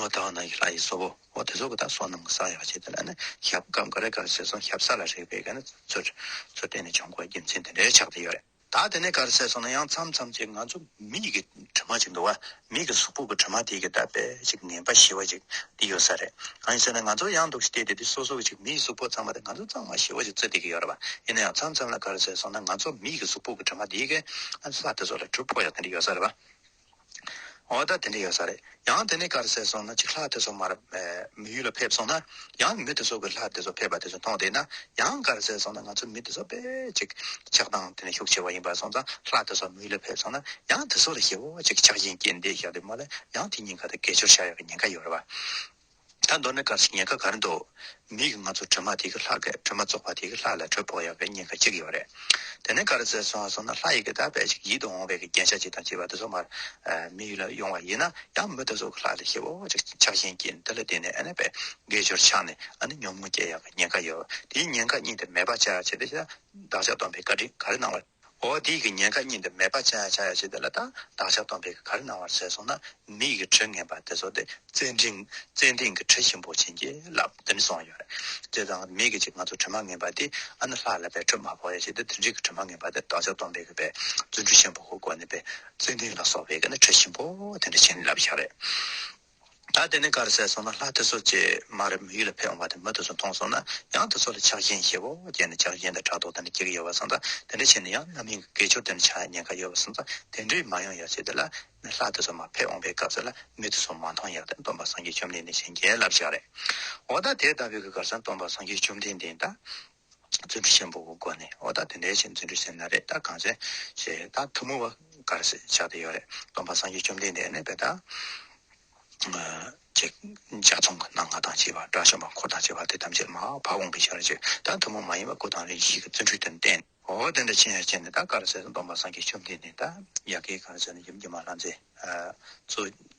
ཨོ་ད་ཨོ་ན་གི་ལྷ་ཡི་བཟོ་བོ། འོ་དེ་ཚོ་གི་དག་སོ་ནམ་གི་ས་ཡོད་པ་བྱས་དེ་ལ་ཞབས་གང་ག་རེ་ག་རེ་བྱས་སོང་ཞབས་ས་ལ་རེག་པའི་གནས་ཚུལ་རེ་ཚོ་བལྟས་ནས་བྱུང་གོ་རྒྱུ་མཚན་དེ་འདྲའི་ཆགས་ཀྱི་ཡོད་རེད། ད་དེ་ནས་ག་རེ་བྱས་སོང་ན་ཡང་མཚམས་མཚམས་ཅིག་ང་ཚོ་མི་ཡི་གི་དྲི་མ་ཅིག་འདུག་བ་མི་གི་གཟུགས་པོ་གི་དྲི་མ་དེ་གི་ད་པས་ཅིག་ངན་པ་ཞི་བ་ཅིག་དེ་ཡོད་ས་རེད་གང་ཡིན་ཟེར་ན་ང་ཚོ་ཡང་འདུག་ཤི་དེ་དེ་སོ་སོ་གི་ཅིག་མི་ཡི་གཟུགས་པོ་ཚང་མ་དེ་ང་ཚོ་ཚང་མ་ཞི་བ་ཅིག་བརྩི་བསྡད་ཀྱི་ཡོད་རེད་བ་ཡིན་ན་ཡང་མཚམས་མཚམས་ལ་ག་རེ་བྱས་སོང་ན་ང་ཚོ་མི་ཡི་གི་གཟུགས་པོ་གི་དྲི་མ་དེ་གི་ས་དེ་ཚོ་ལ་གྲུབ་ཕོག་ཡག་དེ་འདྲ་ཡོད་ས་རེད་བ། ཨོ་ད་དེ་འདྲ་ཡོད་ས་རེད། ཡང་དེ་ནས་དཀར་ཟས་སོང་ན་ཅིག་ལྷ་དེ་ཚོ་མར་མི་ཡུལ་ལ་ཕེབས་སོང་ན། ཡང་མི་དེ་ཚོ་གི་ལྷ་དེ་ཚོ་ཕེབས་པ་དེ་ཚོ་མཐོང་བསྡད་ན། ཡང་དཀར་ཟས་སོང་ན་ང་ཚོ་མི་དེ་ཚོ་དཔེ་ཅིག་ཆགས་སྟངས་དེ་ནས་ཤུགས་ཆེ་བ་ཡིན་པ་སོང་ཙང་ལྷ་དེ་ཚོ་མི་ཡུལ་ལ་ཕེབས་སོང་ན། ཡང་དེ་ཚོ་ལ་ཞེ་བོ་ཅིག་ཆགས་བཞིན་སྐྱེས་འདེད་བཞག་འདོད་མ་ལ་ཡང་དེ་གཉིས་ཀ་དང་སྐད་ཅོར་བྱ་ཡག་གི་ཉེན་ཁ་ཡོད་རེད་བ། ད་མདོར་ན་སྐར་ཆ་ཉེར་ཁ་གར་འདུག་མིག་གིས་ང་ཚོ་དྲི་མ་དེ་གི་ལྷག་གི་དྲི་མ་བཙོག་པ་དེ་གི་ལྷག་ལ་དྲོད་ཕོག་ཡོང་བའི་ཉེན་ཁ་གཅིག་ཡོད་རེད། དེ་ནས་གར་ཟེར་སོང་སོང་ན་ལྷ་ཡི་གི་དག་པས་ཅིག་ཡིད་དུ་འོང་བའི་གི་རྒྱན་ཆ་ཅིག་དང་བཅས་པ་དེ་ཚོ་མར་མིག་ལ་ཡོང་བ་ཡིན་ན་ཡང་མི་དེ་ཚོ་གི་ལྷག་ལ་ཤེད་བོ་ཅིག་ཆགས་ཤིང་གི་འདི་ལ་བརྟེན་ནས་ཨ་ནེ་པའི་དགེ་སྦྱོར་ཆགས་ནས་ཨ་ནེ་ཉོབ་མོ་སྐྱེ་ཡག་གི་ཉེན་ཁ་ཡོད་དེའི་ཉེན་ཁ་གཉིས་དེ་མེད་པ་བྱ་ཆེད་དེ་བདག་ཅག་སྡོམ་པའི་བཀའ་དྲིན་ག་རེ་གནང་བ། འོ་དེས་ཀྱི་ཉེན་ཁ་གཉིས་འདི་མེད་པ་བྱ་ཡ་བྱ་ཡ་བྱས་དེ་ལ་དང་བདག་ཅག་སྟོང་པས་ཀྱི་གར་གནང་བར་མཛད་སོང་ན་མི་ཡི་གྲི་ངན་པ་དེ་ཚོ་དེ་ཙན་དན་ཙན་དན་གྱི་གྲི་ཞིམ་པོ་བྱིན་གྱིས་བརླབས་དེ་ནི་སོང་ཡོད་དེ་དང་མི་ཀྱི་ཅི་ང་ཚོ་གྲི་མ་ངན་པ་དེ་ཨ་ནི་ལྷ་ལ་བས་གྲི་མ་ཕོག་ཡ་བྱས་དེ་དེ་འདྲས་ཀྱི་གྲི་མ་ངན་པ་དེ་བདག་ཅག་སྟོང་པས་ཀྱི་བས་བརྫུན་གྲི་ཞིམ་པོ་ཁོ་བཀོད་ནས་པས་ཙན་དན་ལ་སོགས་པས་ཀྱི་ནི་གྲི་ཞིམ་པོ་དེ་འདྲས་བྱིན་བརླབས་ཤག་རེད། ད་དེ་ནས་གར་ཟས་སོང་ན་ལྷ་དེ་ཚོ་རྗེས་མ་རེད་མི་ཡུལ་ལ་ཕེབས་འོང་བ་དེ་མི་དེ་ཚོ་མཐོང་སོང་ན་ཡང་དེ་ཚོ་ལ་ཆགས་ཞེན་ཞེ་བོ་སྐྱེས་ནས་ཆགས་ཞེན་དང་ཕྲག་དོག་དེ་འདྲ་སྐྱེ་གི་ཡོད་པ་སོང་ད་དེ་འདྲ་བྱས་ནས་ཡང་རྣམ་གཡེང་གི་སྐད་ཅོར་དེ་འདྲ་ཆགས་ཡ་ཉེན་ཁ་ཡོད་པ་སོང་ད་དེ་འདྲའི་མ་ཡོང་ཡ་བྱས་དེ་ལ་ནས་ལྷ་དེ་ཚོ་མ་ཕེབས་འོང་པའི་སྐབས་སུ་ལ་མི་དེ་ཚོ་མ་མཐོང་ཡ་དེ་སྟོན་པ་སངས་རྒྱས་བཅོམ་ལྡན་འདས་གཞན་རྒྱལ་བསླབ་བྱ་རེད་འོ་ད་དེ་ལྟ་བུའི་གི་གར་ས་སྟོན་པ་སངས་རྒྱས་བཅོམ་ལྡན་འདས་དང། རྫུ་འཕྲུལ་ཆེན་པོ་བོའི་སྒོ་ནས་ཨོ་ད་དེ་འདྲའི་ཆེ་རྫུ་འཕྲུལ་ཆེ་ན་རེད་ད་གངས་ཅན་ཞེས་ད་ཐུགས་མོས་བ་གར་སེ་ཆགས་ཏེ་ཡོད་རེད་སྟོང་པ་སངས་རྒྱས་བཅོམ་ལྡན་འདས་གནས་པའི་བདག། ཅེས་འཇའ་ཚོན་གྱི་སྣ་ལྔ་དང་བཅས་པ་དགྲ་བཅོམ་པ་འཁོར་དང་བཅས་པ་དེ་ཐམས་ཅད་མ་བ་འོངས་པའི་ཕྱིར་ཅེས་ད་ཐུགས་མོས་མ་ཡིན་བ་སྐུ་དང་རིགས་བཞིའི་རྫུ་འཕྲུལ་དེ་བསྟན། ཨོ་དེ་འདྲའི་ཆེ་ཡང་ཆེ་ནས་ད་གར་སེ་སྟོང་པ་སངས་རྒྱས་བཅོམ་ལྡན་འདས་ད་ཡ་གིའི་གར་སེ་ནས་ཡུམ་གྱི་མ་ལྷ་མཛད།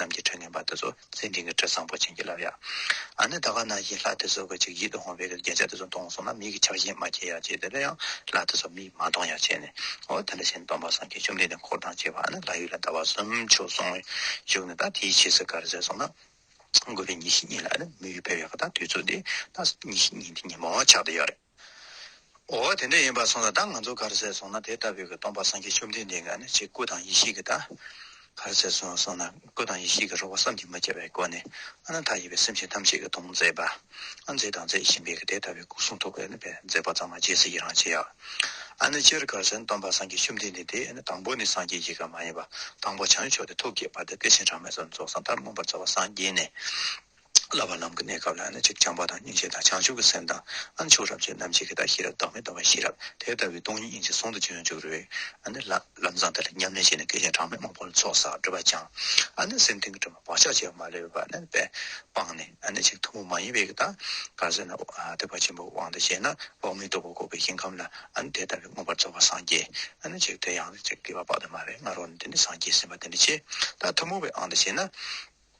རྣམས་ཀྱི་ཁྲོད་ངན་པ་འདི་ཚོ་ཚེ་འདི་གི་ཁྲོད་བཟང་པོ་བྱིན་གྱིས་བརླབས་ཡ། ཨ་ནི་ད་ག་ན་ཡི་ལྷ་དེ་ཚོ་གི་ཅིག་ཡིད་དུ་འོང་བའི་གི་རྒྱན་ཆ་དེ་ཚོ་གཏོང་སོང་ན་མིག་གི་ཆགས་བཞིན་མ་སྐྱེ་ཡ་ཅེས་དེ་ལ་ཡང་ལྷ་དེ་ཚོ་མིག་མ་གཏོང་ཡ་བྱས་ནས་ཨོ་དེ་འདྲ་བྱས་ནས་སྟོང་པ་སངས་རྒྱས་བཅོམ་ལྡན་འདས་འཁོར་དང་བཅས་པ་ཨ་ནི་ལྷ་ཡུལ་ལ་ཟླ་བ་གསུམ་ཆོས་གསུང་བའི་བཞུགས་ནས་ད་དེའི་ཕྱིས་སུ་གར་ཟད་སོང་ན་དགོས་པའི་ཉིན་ཞིག་ཉིན་ལ་ཨ་ནི་མི་ཡུལ་ཕེབས་ཡ་གི་ད་དུས་ཚོད་འདི་ད་ཉིན་ཞིག་ཉིན་དེ་ཉིན་མོ་ཆགས་འདི་ཡོད་རེད། ཨོ་དེ་འདྲ་ཡིན་པར་སོང་ལ་ད་ང་ཚོ་གར་ཟེར་སོང་ན་དེ་ལྟ་བུའི་སྟོང་པ་སངས་རྒྱས་བཅོམ་ལྡན་འདས་འགའ་ནི་ཆེས་སྐུ་དང་ཡེ་ཤེས་ཀྱི་བདག། གར་ཟེར་སོང་སོང་ན་སྐུ་དང་ཡེ་ཤེས་ཀྱི་རོལ་བ་བསམ་གྱིས་མི་ཁྱབ་པའི་སྒོ་ནས་ཨ་ན་ཐ་ཡི་བའི་སེམས་ཅན་ཐམས་ཅད་ཀྱི་དོན་མཛད་པ། ཨ་མཛད་དང་མཛད་བཞིན་པའི་དེ་ལྟ་བུའི་སྐུ་གསུང་ཐུགས་ཀྱི་མཛད་པ་ཚང་མ་རྗེས་སུ་ཡི་རང་བྱེད། ཨ་ནི་སྤྱིར་གར་ཟེར་ན་སྟོང་པ་སངས་རྒྱས་བཅོམ་ལྡན་འདས་དེ་ནི་དང་པོ་ནས་སངས་རྒྱས་ཀྱི་གར་མ་ཡིན་པ་དང་པོ་བྱང་ཆུབ་ཏུ་ཐུགས་བསྐྱེད་བར་དུ་སྐུ་ཆེན་གྲངས་མེད་སོགས་རྫོགས་སངས་ལྟར་མངོན་པར་རྩ་བ་སངས་རྒྱས་ནས། བསླབ་པ་ལམ་གྱི་གནས་སྐབས་ལ་ནི་གཅིག་བྱམས་པ་དང་སྙིང་རྗེ་དང་བྱང་ཆུབ་ཀྱི་སེམས་དང། ཨ་མཆོག་རབ་འབྱེད་རྣམ་འབྱེད་ཀྱི་དག་ཤེས་རབ་བདག་མེད་རྟོགས་པ་ཤེས་རབ་དེ་ལྟ་བུའི་སྟོང་ཉིད་སྙིང་རྗེ་ཟུང་དུ་འཇུག་ཡོངས་འཇུག་རོལ། ཨ་ནི་ལ། ལམ་བཟང་དེ་ལ་ཉམས་ལེན་བྱས་ནས་སྐད་ཅིག་གྲངས་མེད་མང་པོ་ལ་ཚོགས་བསགས་སྒྲུབ་པར་བྱང། ཨ་ནི་སེམས་གཏིང་གི་དྲི་མ་བག་ཆགས་བྱེ་བ་མ་ལུས་པ་ནི་པས་སྤངས་ནས། ཨ་ནི་གཅིག་ཐུན་མོང་མ་ཡིན་པའི་གི་དང། གར་སོན་ན། ཐེག་པ་ཆེན་པོའི་དབང་དུ་བྱས་ན། འོག་མིན་རྟོགས་པ་འགོག་པའི་ཞིང་ཁམས་ལ། ཨ་ནི་དེ་ལྟ་བུའི་མངོན་པར་རྫོགས་པ་སངས་རྒྱས། ཨ་ནི་གཅིག་དེ་ཡང་ནི་གཅིག་སྐྱེ་བ་དཔག་ཏུ་མ་བའི་ང་རོ་ནི་དེ་ནི་སངས་རྒྱས་སེམས་དཔའ་དེ་ནི་ཆེས་དག་ཐུན་མོང་བའི་ཨང་དུ་བྱས་ན།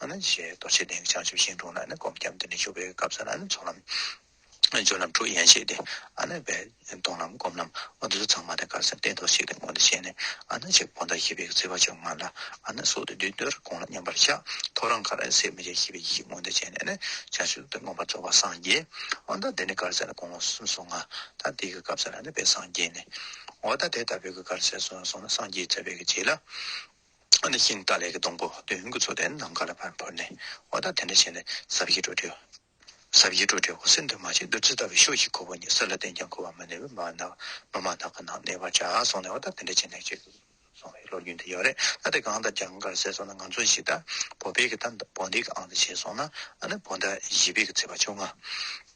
ཞེས་རྡོ་རྗེ་གདན་གྱི་བྱང་ཆུབ་ཤིང་དྲུང་ན་ནི་སྒོམ་སྐྱབས་འདི་ནི་བཞུགས་པའི་སྐབས་སུ་ན་ནི་ཚོགས་ལམ། སྦྱོར་ལམ་དྲུག་ཡན་ཆད་དེ། བས། མཐོང་ལམ་སྒོམ་ལམ་འོ་འདི་ཚོ་ཚང་མ་དེ་གར་སེམས་གཏད་དོ་ཞེས་དེ་སྔོན་དུ་བཤད་ནས། ཅེས་ཕོ་མཐའ་ཞི་བའི་བརྩེ་བ་བྱོན་སྔར་ལ། སོགས་དེ་དུས་འདིར་དགོངས་ལ་མཉམ་པར་བཞག། ཐོ་རངས་ཁར་ནི་སེམས་མི་བརྗེད་ཞི་བའི་ཡེ་ཤེས་མངོན་དུ་བྱས་ནས་ནི། བྱང་ཆུབ་ཏུ་མངོན་པར་རྫོགས་པར་སངས་རྒྱས། འོ་ད་འདི་ནི་གར་ཟད་ན་དགོངས་ལོངས་སུམ་སོ་ལྔ། ད་འདི་ཀྱི་སྐབས་སུ་ན་ནི་དཔལ་སངས་རྒྱས་ནས། འོ་ད་དེ་ལྟ་བུའི་གར་ཟད་སོང་ན་སངས་རྒྱས་བཙལ་བས་ཀྱི་རྗེས་ལ། ནས་ཤིང་རྟ་ལས་ཀྱི་སྡོང་པོ་བདུན་གྱི་ཚོགས་དེ་ནམ་མཁའ་ལ་བར་འཕུར་ནས་འོ་ད་དེ་འདྲ་བྱས་ནས་ཟབ་ཡིག་འབྲུ་དྲིལ། ཟབ་ཡིག་འབྲུ་དྲིལ་འོག་སེར་འདོད་མ་ཅིག་བདུད་རྩི་ལྟ་བུའི་ཤོག་ཤིག་ཁུར་བ་ཉིད་གསེར་ལ་བརྟེན་ཀྱང་ཁུར་བ་མ་ནས་བུ་མ་ནག་མོ་མ་ནག་གི་ནང་གནས་པར་བྱ་གསུངས་ནས་འོ་ད་དེ་འདྲ་བྱས་ནས་ཅེས་གསུངས་བས་ལོ་རྒྱུས་འདི་ཡག་རེད་ད་དེ་གང་ལྟར་རྒྱ་གར་སྲས་སོང་ན་ང་ཚོ་གཞིས་རྟ་བོ་དཔལ་གྱི་རྟ་བོ་འདི་གི་ཨང་དང་བྱས་སོང་ན་ཨ་ནི་བོ་ད་གཞིས་དཔལ་གྱི་ཚེས་པ་བཅོ་ལྔ།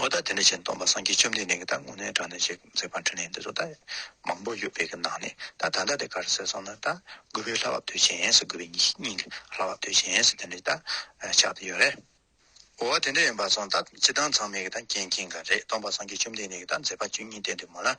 ཨོ་ད་དེ་འདྲ་བྱས་ནས་སྟོང་པ་སངས་རྒྱས་བཅོམ་ལྡན་འདས་ཀྱི་ད་སྔོན་ནས་དྲངས་ནས་བྱས་ཟེར་བར་འཕྲིན་ལས་འདི་ཚོ་ད་མང་པོ་ཡོད་པའི་གི་ནང་ནས་ད་ད་ལྟ་དེ་ག་རེ་ཟེར་སོང་ན་ད་རྒུད་པའི་ལྷ་བབ་དུས་ཆེན་ཟེར་རྒུད་པའི་སྙིང་གི་ལྷ་བབ་དུས་ཆེན་ཟེར་དེ་འདྲ་ད་ཆགས་ཏེ་ཡོད་རེད། ཨོ་དེ་འདྲ་ཡིན་པ་སོང་ད་སྤྱི་བཏང་ཚང་མས་གི་ད་མཁྱེན་མཁྱེན་ག་རེད་སྟོང་པ་སངས་རྒྱས་བཅོམ་ལྡན་འདས་ཀྱི་ད་མཛད་པ་བཅུ་གཉིས་བསྟན་འདུག་མོད་ལ།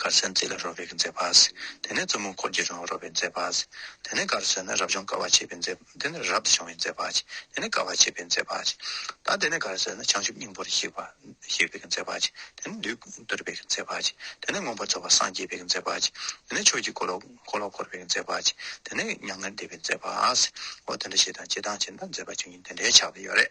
གར་སའི་མཛེས་ལ་རོལ་བའི་མཛེས་པ། དེ་ནས་བཙུན་མོ་འཁོར་གྱི་རང་རོལ་བའི་མཛེས་པ། དེ་ནས་གར་སའི་ན་རབ་སྦྱོང་དཀའ་བ་བྱེད་པའི་མཛེས་པ། དེ་ནས་རབ་ཏུ་སྦྱོང་བའི་མཛེས་པ། དེ་ནས་དཀའ་བ་བྱེད་པའི་མཛེས་པ། ད་དེ་ནས་གར་སའི་ན་བྱང་ཆུབ་སྙིང་པོར་གཤེགས་པ། གཤེགས་པའི་མཛེས་པ། དེ་ནས་འདུས་བསྡུར་བའི་མཛེས་པ། དེ་ནས་མངོན་པར་རྫོགས་པར་སངས་རྒྱས་པའི་མཛེས་པ། དེ་ནས་ཆོས་ཀྱི་འཁོར་ལོ་བསྐོར་བའི་མཛེས་པ། དེ་ནས་མྱ་ངན་འདས་པའི་མཛེས་པ། འོ་དེ་འདྲ་ཞེས་དང་ཅི་དང་ཅི་འདྲ་མཛེས་པ་བཅུ་གཉིས་འདི་འདྲའི་ཆགས་པ་ཡོད་རེ།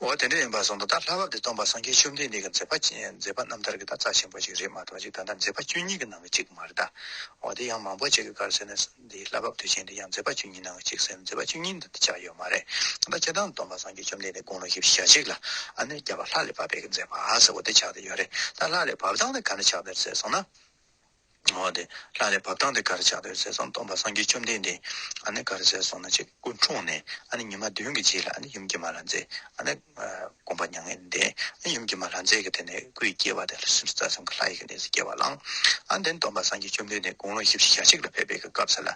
འོ་དེ་འདྲ་ཡིན་པར་བཟུང་ད་ལྟ་ལྷ་བབས་འདི་སྟོན་པ་སངས་རྒྱས་བཅོམ་ལྡན་འདས་ཀྱི་མཛད་པ་མཛད་པ་རྣམ་ཐར་གྱི་དར་རྩ་ཆེན་པོ་ཞིག་རེད་མ་གཏོགས་ཅིག་ད་ལྟ་མཛད་པ་བཅུ་གཉིས་ཀྱི་ནང་གི་གཅིག་མ་རེད་ད། འོ་དེ་ཡང་མང་པོ་ཅིག་གི་བཀའ་རུ་ཟེར་ནས་འདི་ལྷ་བབས་དུས་ཆེན་འདི་ཡང་མཛད་པ་བཅུ་གཉིས་ནང་གི་གཅིག་ཟེར་ནས་མཛད་པ་བཅུ་གཉིས་འདི་འདི་ཆགས་ཡོད་མ་རེད་ད་ལྟ་སྤྱི་དང་སྟོན་པ་སངས་རྒྱས་བཅོམ་ལྡན་འདས་དགུང་ལོ་བཞི་བཅུ་ཞེ་གཅིག་ལ་ཨ་ནེ་རྒྱལ་བ་ལྷ་རེ་བབས་པའི་གི་མཛད་པ་ཟེར་བ་འདི་ཆགས་འདི་ཡོད་རེད་ད་ལྷ་རེ་བབས་དང་ནི་ག་འདྲ་ཆགས་འདི་ཟེར་སོང་ན། ལྷ་རེ་བབས་སྟངས་དེ་ག་རེ་ཆགས་འདོད་ཟེར་སོང་སྟོང་པ་སངས་རྒྱས་བཅོམ་ལྡན་འདས་ག་རེ་ཟེར་སོང་ན་ཆེ་དགུ་འཁྲུངས་ནས་ཉི་མ་བདུན་གྱི་རྗེས་ལ་ཡུམ་སྐྱེས་མ་ལྷ་མཛེས་དགོངས་པ་མྱ་ངན་འདས་ཡུམ་སྐྱེས་མ་ལྷ་མཛེས་ཀྱི་དེ་ནས་སྐུ་ཡི་སྐྱེ་བ་དེ་ལྷ་སྲིན་རྩ་གསུམ་གྱི་ལྷ་ཡི་གནས་སུ་སྐྱེ་བ་བླངས་དེ་ནས་སྟོང་པ་སངས་རྒྱས་བཅོམ་ལྡན་འདས་དགུང་ལོ་བཞི་བཞི་ཞག་གཅིག་ལ་ཕེབས་པའི་སྐབས་སུ་ལ་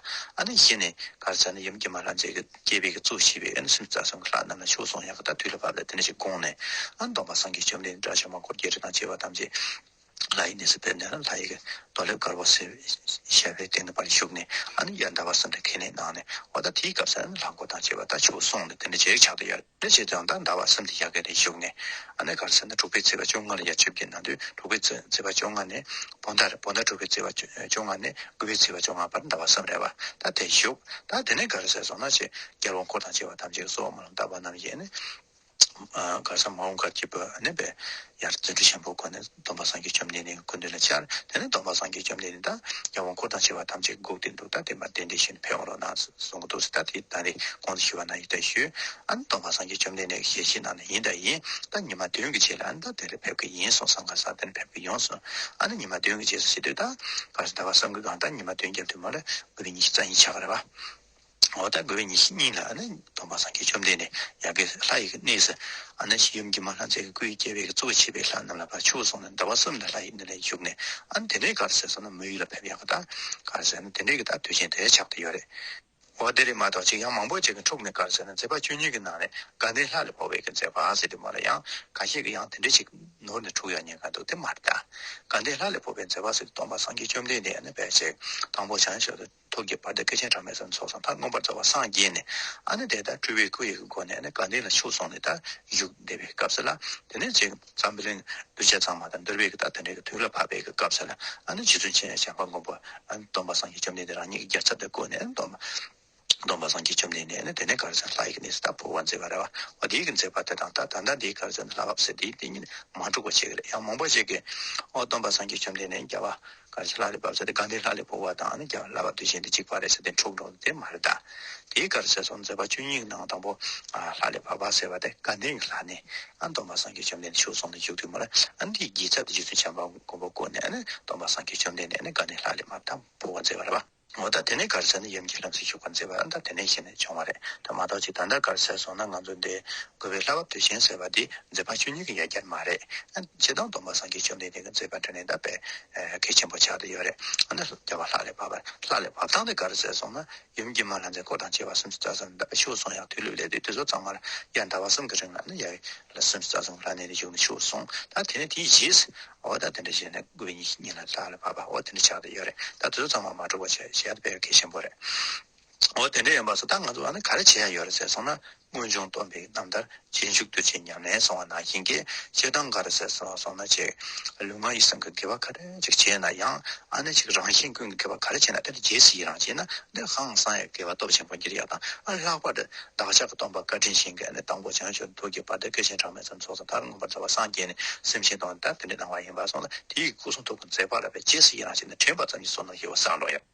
གཞི་ནས་ག་རེ་ཟེར་ན་ཡུམ་སྐྱེས་མ་ལྷ་མཛེས་ཀྱི་སྐྱེས་པའི་གཙོ་བྱས་པའི་ལྷ་སྲིན་རྩ་གསུམ་གྱི་ལྷ་རྣམས་ལ་ཆོས་གསུང་ཡང་དག་དུས་ལ་བབས་ལ་དེ་ནས་ཆེ་དགུང་ནས་སྟོང་པ་སངས་རྒྱས་བཅོམ་ལྡན་འདས་དགྲ་བྱ་མ་འཁོར་བརྒྱད་ཁྲི་དང་བཅས་པ་ཐམས་ཅད་ལྷ་ཡི་གནས་སུ་ཕེབས་ནས་ལྷ་ཡི་རྡོ་ལེབ་དཀར་པོ་བཞེས་པའི་སྟེང་དུ་བར་བཞུགས་ནས་ཨ་ནི་ཡར་འདའ་བར་སོང་སྟེ་ཁས་ལེན་གནང་ནས་འོ་ད་དེའི་སྐབས་སུ་ལྷ་འགོ་དང་བཅས་པ་ད་བྱུགས་གསུངས་ནས་དེ་ནས་རྗེ་རིག་བྱ་དང་ཡར་ལེན་བྱས་ཙང་ད་འདའ་བར་སེམས་ཏེ་ཡར་ཁས་ལེན་བཞུགས་ནས་ཨ་ནི་གར་སེང་ན་དྲུག་པའི་ཚེས་པ་བཅོ་ལྔ་ལ་ཡར་ཆིབས་ཀྱི་ན་དུས་དྲུག་པའི་ཚེས་པ་བཅོ་ལྔ་ནས་བོ་འདར་བོ་འདར་དྲུག་པའི་ཚེས་པ་བཅོ་ལྔ་ནས་དགུ་པའི་ཚེས་པ་བཅོ་ལྔ་བར་འདའ་བར་བསམ་རེ་བ་ད་དེ་བཞུགས་ད་དེ་ནས་གར་སེང་སོང་ན་ཆེ་རྒྱལ་བོ་འཁོར་དང་བཅས་པ་ཐམས་ཅད་ཀྱི་སྲོག་མ་ལ་འདའ་བ་རྣམས་ཡིན། གང་ཟག་མ་འོངས་གར་སྐྱེ་བོས་གནས་པའི་ཡར་རྩེ་གྲུ་ཆེན་པོའི་སྒོ་ནས་སྡོམ་པ་སངས་རྒྱས་བཅོམ་ལྡན་འདས་ཀྱི་སྐུ་འདི་ལ་འཆར། དེ་ནས་སྡོམ་པ་སངས་རྒྱས་བཅོམ་ལྡན་འདས་དང་ཡང་དབང་བསྐུར་དང་བྱེ་བ་ཐམས་ཅད་དགུག་སྟེ་འདུག་སྟངས་བསྟན་པ་བདེན་བདེན་བཞིན་ཕེབས་འོང་རོགས་གནང་གསུང་གི་འདུག་སྲིད་ད་དེའི་དང་རེ་སྐོང་དུ་ཞུ་བ་གནང་ཡིད་ལྟ་ཞུ། ཨ་ནི་སྡོམ་པ་སངས་རྒྱས་བཅོམ་ལྡན་འདས་ཀྱི་ཞལ་གྱིས་གནང་ན་ཡིན་ད་ཡིན་ད་ཉི་མ་བདུན་གྱི་རྗེས་ལ་ཨ་ནི་ད་དེ་རེ་ཕེབས་ཀྱི་ཡིན་གསུང་སང་གང་ཟག་དེ་ནི་ཕེབས་ཀྱི་ཡོང་གསུང། ཨ་ནི་ཉི་མ་བདུན་གྱི་རྗེས་སུ་ཤི་དུས་ད་གང་ཟག་ད་བར་བསམ་གྱི་གང་ད་ཉི་མ་བདུན་བརྒྱབ་དུས་མོ་ལ་དགོས་པའི་ཉིན་ཞིག་རྩ་ཡིན་ཆགས་གི་རེད་བ། འོ་ད་དགོས་པའི་ཉིན་ཞིག་གཉིད་ལ་ནི་སྟོང་པ་སངས་རྒྱས་བཅོམ་ལྡན་འདས་ཡབ་ཀྱི་ལྷ་ཡི་གནས་སུ། ཨ་ནི་ཞིག་ཡུམ་གྱི་མ་ལྷ་མཛེས་ཀྱི་སྐུའི་རྒྱལ་བའི་གཙོ་བོ་བྱས་པའི་ལྷ་རྣམས་ལ་བར་ཆོད་སོང་ནས་ཟླ་བ་གསུམ་ལ་ལྷ་ཡི་གནས་ལས་བཞུགས་ནས་ཨ་ནི་དེ་འདྲའི་གར་ཟེར་སོང་ན་མོའི་ཡུལ་ལ་ཕེབས་ཡག་གི་ད་གར་ཟེར་ན་དེ་འདྲའི་གི་ད་དུས་ཆེན་དེ་ཆགས་ཏེ་ཡོད་རེད། འོ་དེ་རེད་མ་གཏོགས་ཅིག་ཡང་མང་པོ་ཅིག་གི་འཁྲུགས་ནས་གར་ཟེར་ན་མཛེས་པ་བཅུ་གཉིས་ཀྱི་ནང་ནས་དགའ་ལྡན་ལྷ་ལས་འཕོ་བའི་གི་མཛེས་པ་ཟེར་དུས་མོ་ལ་ཡང་ག་ཤེད་གི་ཡང་དེ་འདྲའི་ཅིག་ནོར་ནས་འཁྲུགས་ཡོད་ཉེན་ཁ་འདུག་དེ་མ་རེད་ད། དགའ་ལྡན་ལྷ་ལས་འཕོ་བའི་མཛེས་པ་ཟེར་དུས་སྟོང་པ་སངས་རྒྱས་བཅོམ་ལྡན་འདས་ཡང་ནི་བེར་ཆེན་དང་པོ་བྱང་ཕྱོགས་སུ། ཐུགས་ཀྱི་བར་དུ་སྐལ་ཆེན་གྲངས་མེད་ཙམ་ཚོགས་སམ་ཕར་མངོན་པར་རྫོགས་པར་སངས་རྒྱས་ནས། ཨ་ནི་དེ་ལྟར་སྤྲུལ་པའི་སྐུ་ཡི་གེ་སྒོ་ནས་ནི་དགའ་ལྡན་ལ་ཕྱོགས་སོང་ནས་དར་བཞུགས་བསྡད་པའི་སྐབས་སུ་ལ། དེ་ནས་ཅིག། ཛམ་བུ་ལིང། གདུལ་བྱ་གཙང་མ་དང་འདུལ་བའི་གི་དག་དེ་འདྲའི་གི་དུས་ལ་བབ་པའི་གི་སྐབས་སུ་ལ། ཨ་ནི་རྗེ་བཙུན་ཆེན་ཞང་པ་མགོན་པོ། ཨ་ནི་སྡོམ་པ་སངས་རྒྱས་བཅོམ་ལྡན་འདས་རང་ཉིད་ཀྱི་རྒྱལ་ཚབ་ཏུ་བསྐོས་ནས་སྡོམ་པ། སྡོམ་པ་སངས་རྒྱས་བཅོམ་ལྡན་འདས་ནི་དེ་ནས་གར་མཛད་ལྷ་ཡི་གི་གནས་སུ་དང་པོ་བ་མཛད་པར་རེ་བ། བ་དེའི་གི་མཛད་པ་དེ་དང་ད་ད་ལྟ་འདིའི་གར་མཛད་ནི་ལྷ་སྐབས་སུ་དེའི་དེ་ཉིད་མ་འགྲུབ་པ་བྱས་ཀྱི་ལ་ཡང་མོངས་པ་བྱས་ཀྱི། ཨོ་སྡོམ་པ་སངས་རྒྱས་བཅོམ་ལྡན་འདས་ཀྱི་བ། གར་ཆེན་ལྷ་ལས་བབས་ས་དེ་གང་དེའི་ལྷ་ལས་བོར་བ་དང་ཀྱང་བསླབ་པ་དུས་ཆེན་དེ་གཅིག་པ་རེད་ས་དེ་འཁྲུགས་འགྲོ་དེ་མ་རེད་ད། དེའི་གར་ཟེར་སོང་མཛད་པ་བཅུ་གཉིས་ནང་དང་པོ། ལྷ་ལས་བབས་པ་ཟེར་བ་དེ་གང་དེའི་ལྷ་ནི། སྟོན་པ་སངས་རྒྱས་བཅོམ་ལྡན་འདས་བཞུགས་སོང་ནས་བཞུགས་དུས་མོ་ལ། འདིའི་རྒྱལ་ཚབ་དེ་རྗེ་བཙུན་བྱམས་པ་མགོན་པོ་བསྐོས་ནས། སྟོན་པ་སངས་རྒྱས་བཅོམ་ལྡན་འདས་ནི་གང་དེའི་ལྷ་ལས་བབས་དང་བོར་བ་མཛད་པ་རེད་པ། མོ་ད་དེ་ནས་གར་སའི་ནི་ཡུམ་གྱི་ལྷ་བསྲེག་ཞུགས་པར་མཛད་པ་ད་དེ་ནས་གཞི་ནས་བྱུང་བ་རེད་ད་མ་གཏོགས་ཅི་ད་ལྟ་གར་སའི་སོང་ན་ང་ཚོ་འདི་དགོས་པའི་ལྷ་བབ་དུས་ཆེན་ཟེར་བ་འདི་མཛད་པ་ཆོས་ཉིད་ཀྱི་ཡ་གྱལ་མ་རེད་ཕྱི་དང་སྡོམ་པ་སངས་རྒྱས་བཅོམ་ལྡན་འདས་ཀྱི་མཛད་པ་དྲན་ནས་ད་བེད་སྐད་ཆེན་པོ་ཆགས་དུ་ཡོད་རེད་འདི་ལོ་བརྒྱ་བ་ལྷག་ལས་བབ་པ་ལྷག་ལས་བབ་སྟངས་འདི་གར་སའི་སོང་ན་ཡུམ་གྱི་མ་ལྷ་མཛད་སྐོར་དང་བཅས་པ་སུམ་ཅུ་རྩ་གསུམ་ཞུགས་སོང་ཡང་དུས་ལུགས་ལས་དུས་ཚོད་ཚང་མར་ཡར་ཟླ་བ་གསུམ་གྱི་རིང་ལ་ནི་ཡར་ལ་སེམས་སུ་ད་དུང་ལྷ་གནས་ནས་འབྱོར་མི་ཆོག་གསུང། ད་དེ་ནས་དེའི་རྗེས་སུ། འོ་ད་དེ་འདྲ་བྱས་ན་དགོས་ངེས་ཀྱི་གཉིད་ལ་ལྷག་ལ་བབ་པ་འོ་དེ་འདྲ་ཆགས་ཏེ་ཡོད་རེད་ད་དེ་ཚོ་ཚང་མ་མ་གྲོ་བ་བྱས་བྱས་ད་དཔེ་ཡག་གལ་ཆེན་པོ་རེད། འོ་དེ་འདྲ་ཡིན་པ་སོགས་ད་ང་ཚོ་ཨ་ན་ག་རེ་བྱས་ཡག་ཡོད་རེད་ཟེར་སོང་ན་དངོས་བྱུང་སྟོན་པའི་རྣམ་ཐར་རྗེས་འཇུག་ཏུ་བྱས་ཉམས་ལེན་སོང་བ་ནང་བཞིན་གྱི་བྱེད་སྟངས་ག་རེ་བྱས་སོང་ན་བྱས། ལུས་ངག་ཡིད་གསུམ་གྱི་དགེ་བ་ག་རེ། ནས་ཅིག་བྱས་ན་ཡང་ཨ་ནས་ཅིག་རང་བཞིན་ཀུན་གྱི་དགེ་བ་ག་རེ་བྱས་ན་དེ་ལ་རྗེས་སུ་ཡི་རང་བྱས་ན་འདིར་ཧང་སང་ཡང་དགེ་བ་སྟོབས་ཆེན་པོ་འདིར་ཡང་དང་ཨ་ལྷག་པར་དུ་བདག་ཅག་གི་སྟོང་པ་བཀའ་དྲིན་ཆེན་གྱི་ཨ་ནས་དང་པོ་བྱང་ཆུབ་ཐུགས་ཀྱི་བར་དུ་སྐལ་ཆེན་གྲངས་མེད་ཙམ་ཚོགས་ཟང་ཐར་མངོན་པར་རྫོགས་པར་སངས་རྒྱས་ནས་སེམས་ཅན་དང་ལྟ་བ་དེ་འདྲའི་སྣང་བ་ཡིན་པར་སོང་ལ་དེ་ཡི་སྐུ་གསུང་ཐུགས་ཀྱི་མཛད་པ་ལ་བས་རྗེས་སུ་ཡི་རང་བྱས་ནས་དྲན་པ་ཙམ་གྱིས་སོ་ནོ་ཞེས་པ་སངས་རྟོགས་ཡོད།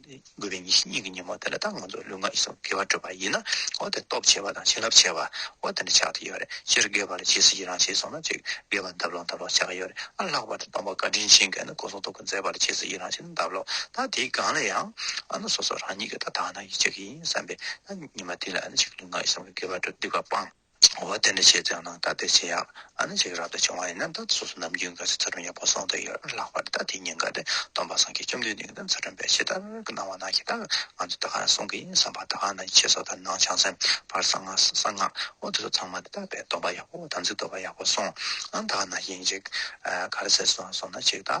དགོས་པའི་ཉིད་ཞི་གཉིས་ཀྱི་ཉོན་མོངས་དེ་ལ་ད་ང་ཚོ་ལུས་ངག་ཡིད་གསུམ་དགེ་བར་སྤྲོས་པ་ཡིན་ན་འོ་དེ་སྟོབས་ཆེ་བ་དང་བྱིན་རླབས་ཆེ་བ་འོ་དེ་འདྲ་ཆགས་ཐུབ་ཡོད་རེད་སྤྱིར་དགེ་བ་ལ་ཇི་སྲིད་ཀྱི་རང་བྱས་སོང་ན་ཅིག་དགེ་བ་འདབ་ལོག་འདབ་ལོག་ཆགས་ཀྱི་ཡོད་རེད་ཨ་ལྷག་པར་དུ་སྟོང་པ་བཀའ་དྲིན་ཆེན་བསྐལ་ན་སྐུ་གསུང་ཐུགས་ཀྱི་མཛད་པ་ལ་ཇི་སྲིད་ཀྱི་རང་བྱས་ན་འདབ་ལོག་ད་དེའི་སྒང་ལ་ཡང་ཨ་ན་སོ་སོ་རང་ཉིད་ཀྱི་ད་དག་ན་ཡིད་ཆེས་ཀྱི་ཡིན་བསམ་པས་ན་ཉི་མ་དེ་ལ་ཨ་ན་ཅིག་ལུས་ངག་ཡིད་གསུམ་གྱི་དགེ་བར་སྤྲོས་བསྡིགས་པ་སྤངས། འོ་དེ་འདྲ་བྱས་ཙང་ནང་ལྟ་དེ་བྱས་ཡག་ཨ་ནི་འཇིགས་རག་ཏུ་བྱུང་བ་ཡིན་ན་ད་ལྟ་སོ་སོ་ནམ་རྒྱུན་ག་ཚོད་ཚ་གྲང་ཡག་པོ་སོང་དུ་ཡོད་རེད་ལགས་པར་ད་དེ་ཉིན་འགའ་རེ་སྟོན་པ་སངས་རྒྱས་བཅོམ་ལྡན་འདས་ཀྱི་ཚ་གྲང་པའི་ཕྱི་ལྟར་གྱི་སྣང་བ་ན་ཞེ་དྲག་ང་ཚོས་ད་ག་རང་གསུང་གི་ཡིན་བསམ་པ་ད་ག་ནང་ཆེ་སོགས་དང་ནང་བྱང་སེམས་བར་གསང་སྔགས་འོ་དེ་ཚོ་ཚང་མ་དེ་དག་པས་སྟོན་པ་ཡག་པོ་དམ་ཚིག་རྡོ་བ་ཡག་པོ་སོང་ཨང་ད་ག་ནང་ཞིག་ཡིན་ཅིག་ག་རེ་ཟེར་སོང་ན་ཅིག་ད